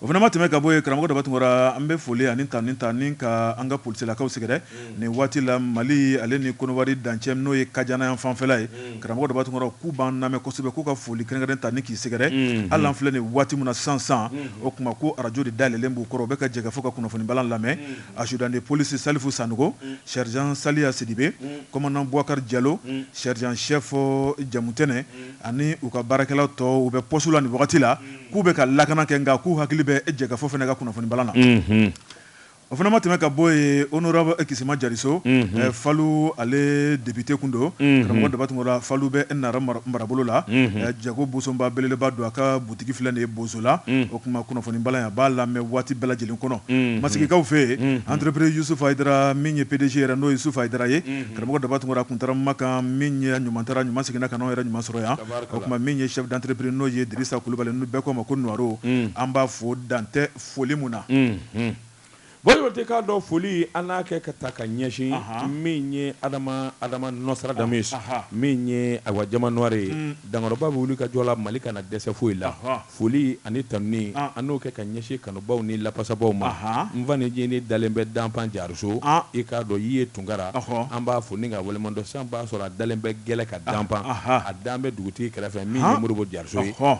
o fana ma tɛmɛ ka bɔ yen Karamɔgɔ Daba Tunkara an bɛ foli ani tanuni ka an ka polisilakaw sɛgɛrɛ nin waati la Mali ale ni Konowari dancɛ n'o ye Kajana yan fanfɛla ye Karamɔgɔ Daba Tunkara k'u b'an lamɛn kosɛbɛ k'u ka foli kɛrɛnkɛrɛn tanuni k'i sɛgɛrɛ hali an filɛ nin waati min na sisan o tuma ko arajo de dayɛlɛlen b'u kɔrɔ u bɛ ka Jɛkafɔ ka kunnafoni bala lamɛn Adjudant de police Salifu Sanogo, Sergent Saliya Sidibe, commandant Buwakari Jalo, sergent chef Jamutɛnɛ ani u ka baarakɛla tɔw, u bɛ poste la nin wagati la, k'u bɛ ka lakana kɛ nka k'u hakili bɛ jɛkafɔ fana ka kunnafonibalan na. O fana ma tɛmɛ ka bɔ yen, Honorable Kisima Jariso, Falu ale depite kun don, karamɔgɔ Daba Tunkara, Falu bɛ Nara marabolo la, Jago Bosonba belebeleba don a ka butigi tigi filɛ nin ye bozola mm. o kuma kunnafoni balan a b'a lamɛn waati bɛɛ lajɛlen kɔnɔ mm-hmm. masigikaw fɛ yen mm-hmm. entreprise yusufu ayidara min ye pdg yɛrɛ n'o yusufu ayidara ye mm-hmm. karamɔgɔ daba tunkara kun taara makan min ye ɲuman taara ɲuman seginna ka n'anw yɛrɛ ɲuman sɔrɔ yan o tuma min ye chef d'entreprise n'o ye dirisa kulubali n'u bɛɛ k'o ma ko nuwaro mm. an b'a fo dan tɛ foli mun na Jabate k'a dɔn foli an n'a kɛ ka taa ka ɲɛsin min ye Adama Adama Nostradamus ye, anhan, min ye Awa diamant noir ye, un, dankɔrɔba bɛ wulikajɔ la Mali kana dɛsɛ foyi la, ɔhɔ, foli ani tanuni an n'o kɛ ka ɲɛsin kanubaaw ni lapasabaaw ma, anhan, n fa ncinin dalen bɛ danfan jariso, an, i k'a dɔn Yiye Tunkara, ɔhɔ, an b'a fo ni k'a waleɲumandɔn san b'a sɔrɔ a dalen bɛ gɛlɛ ka danfan, anhan, a dan bɛ dugutigi kɛrɛfɛ min ye Modibo Jariso ye, ɔhɔ.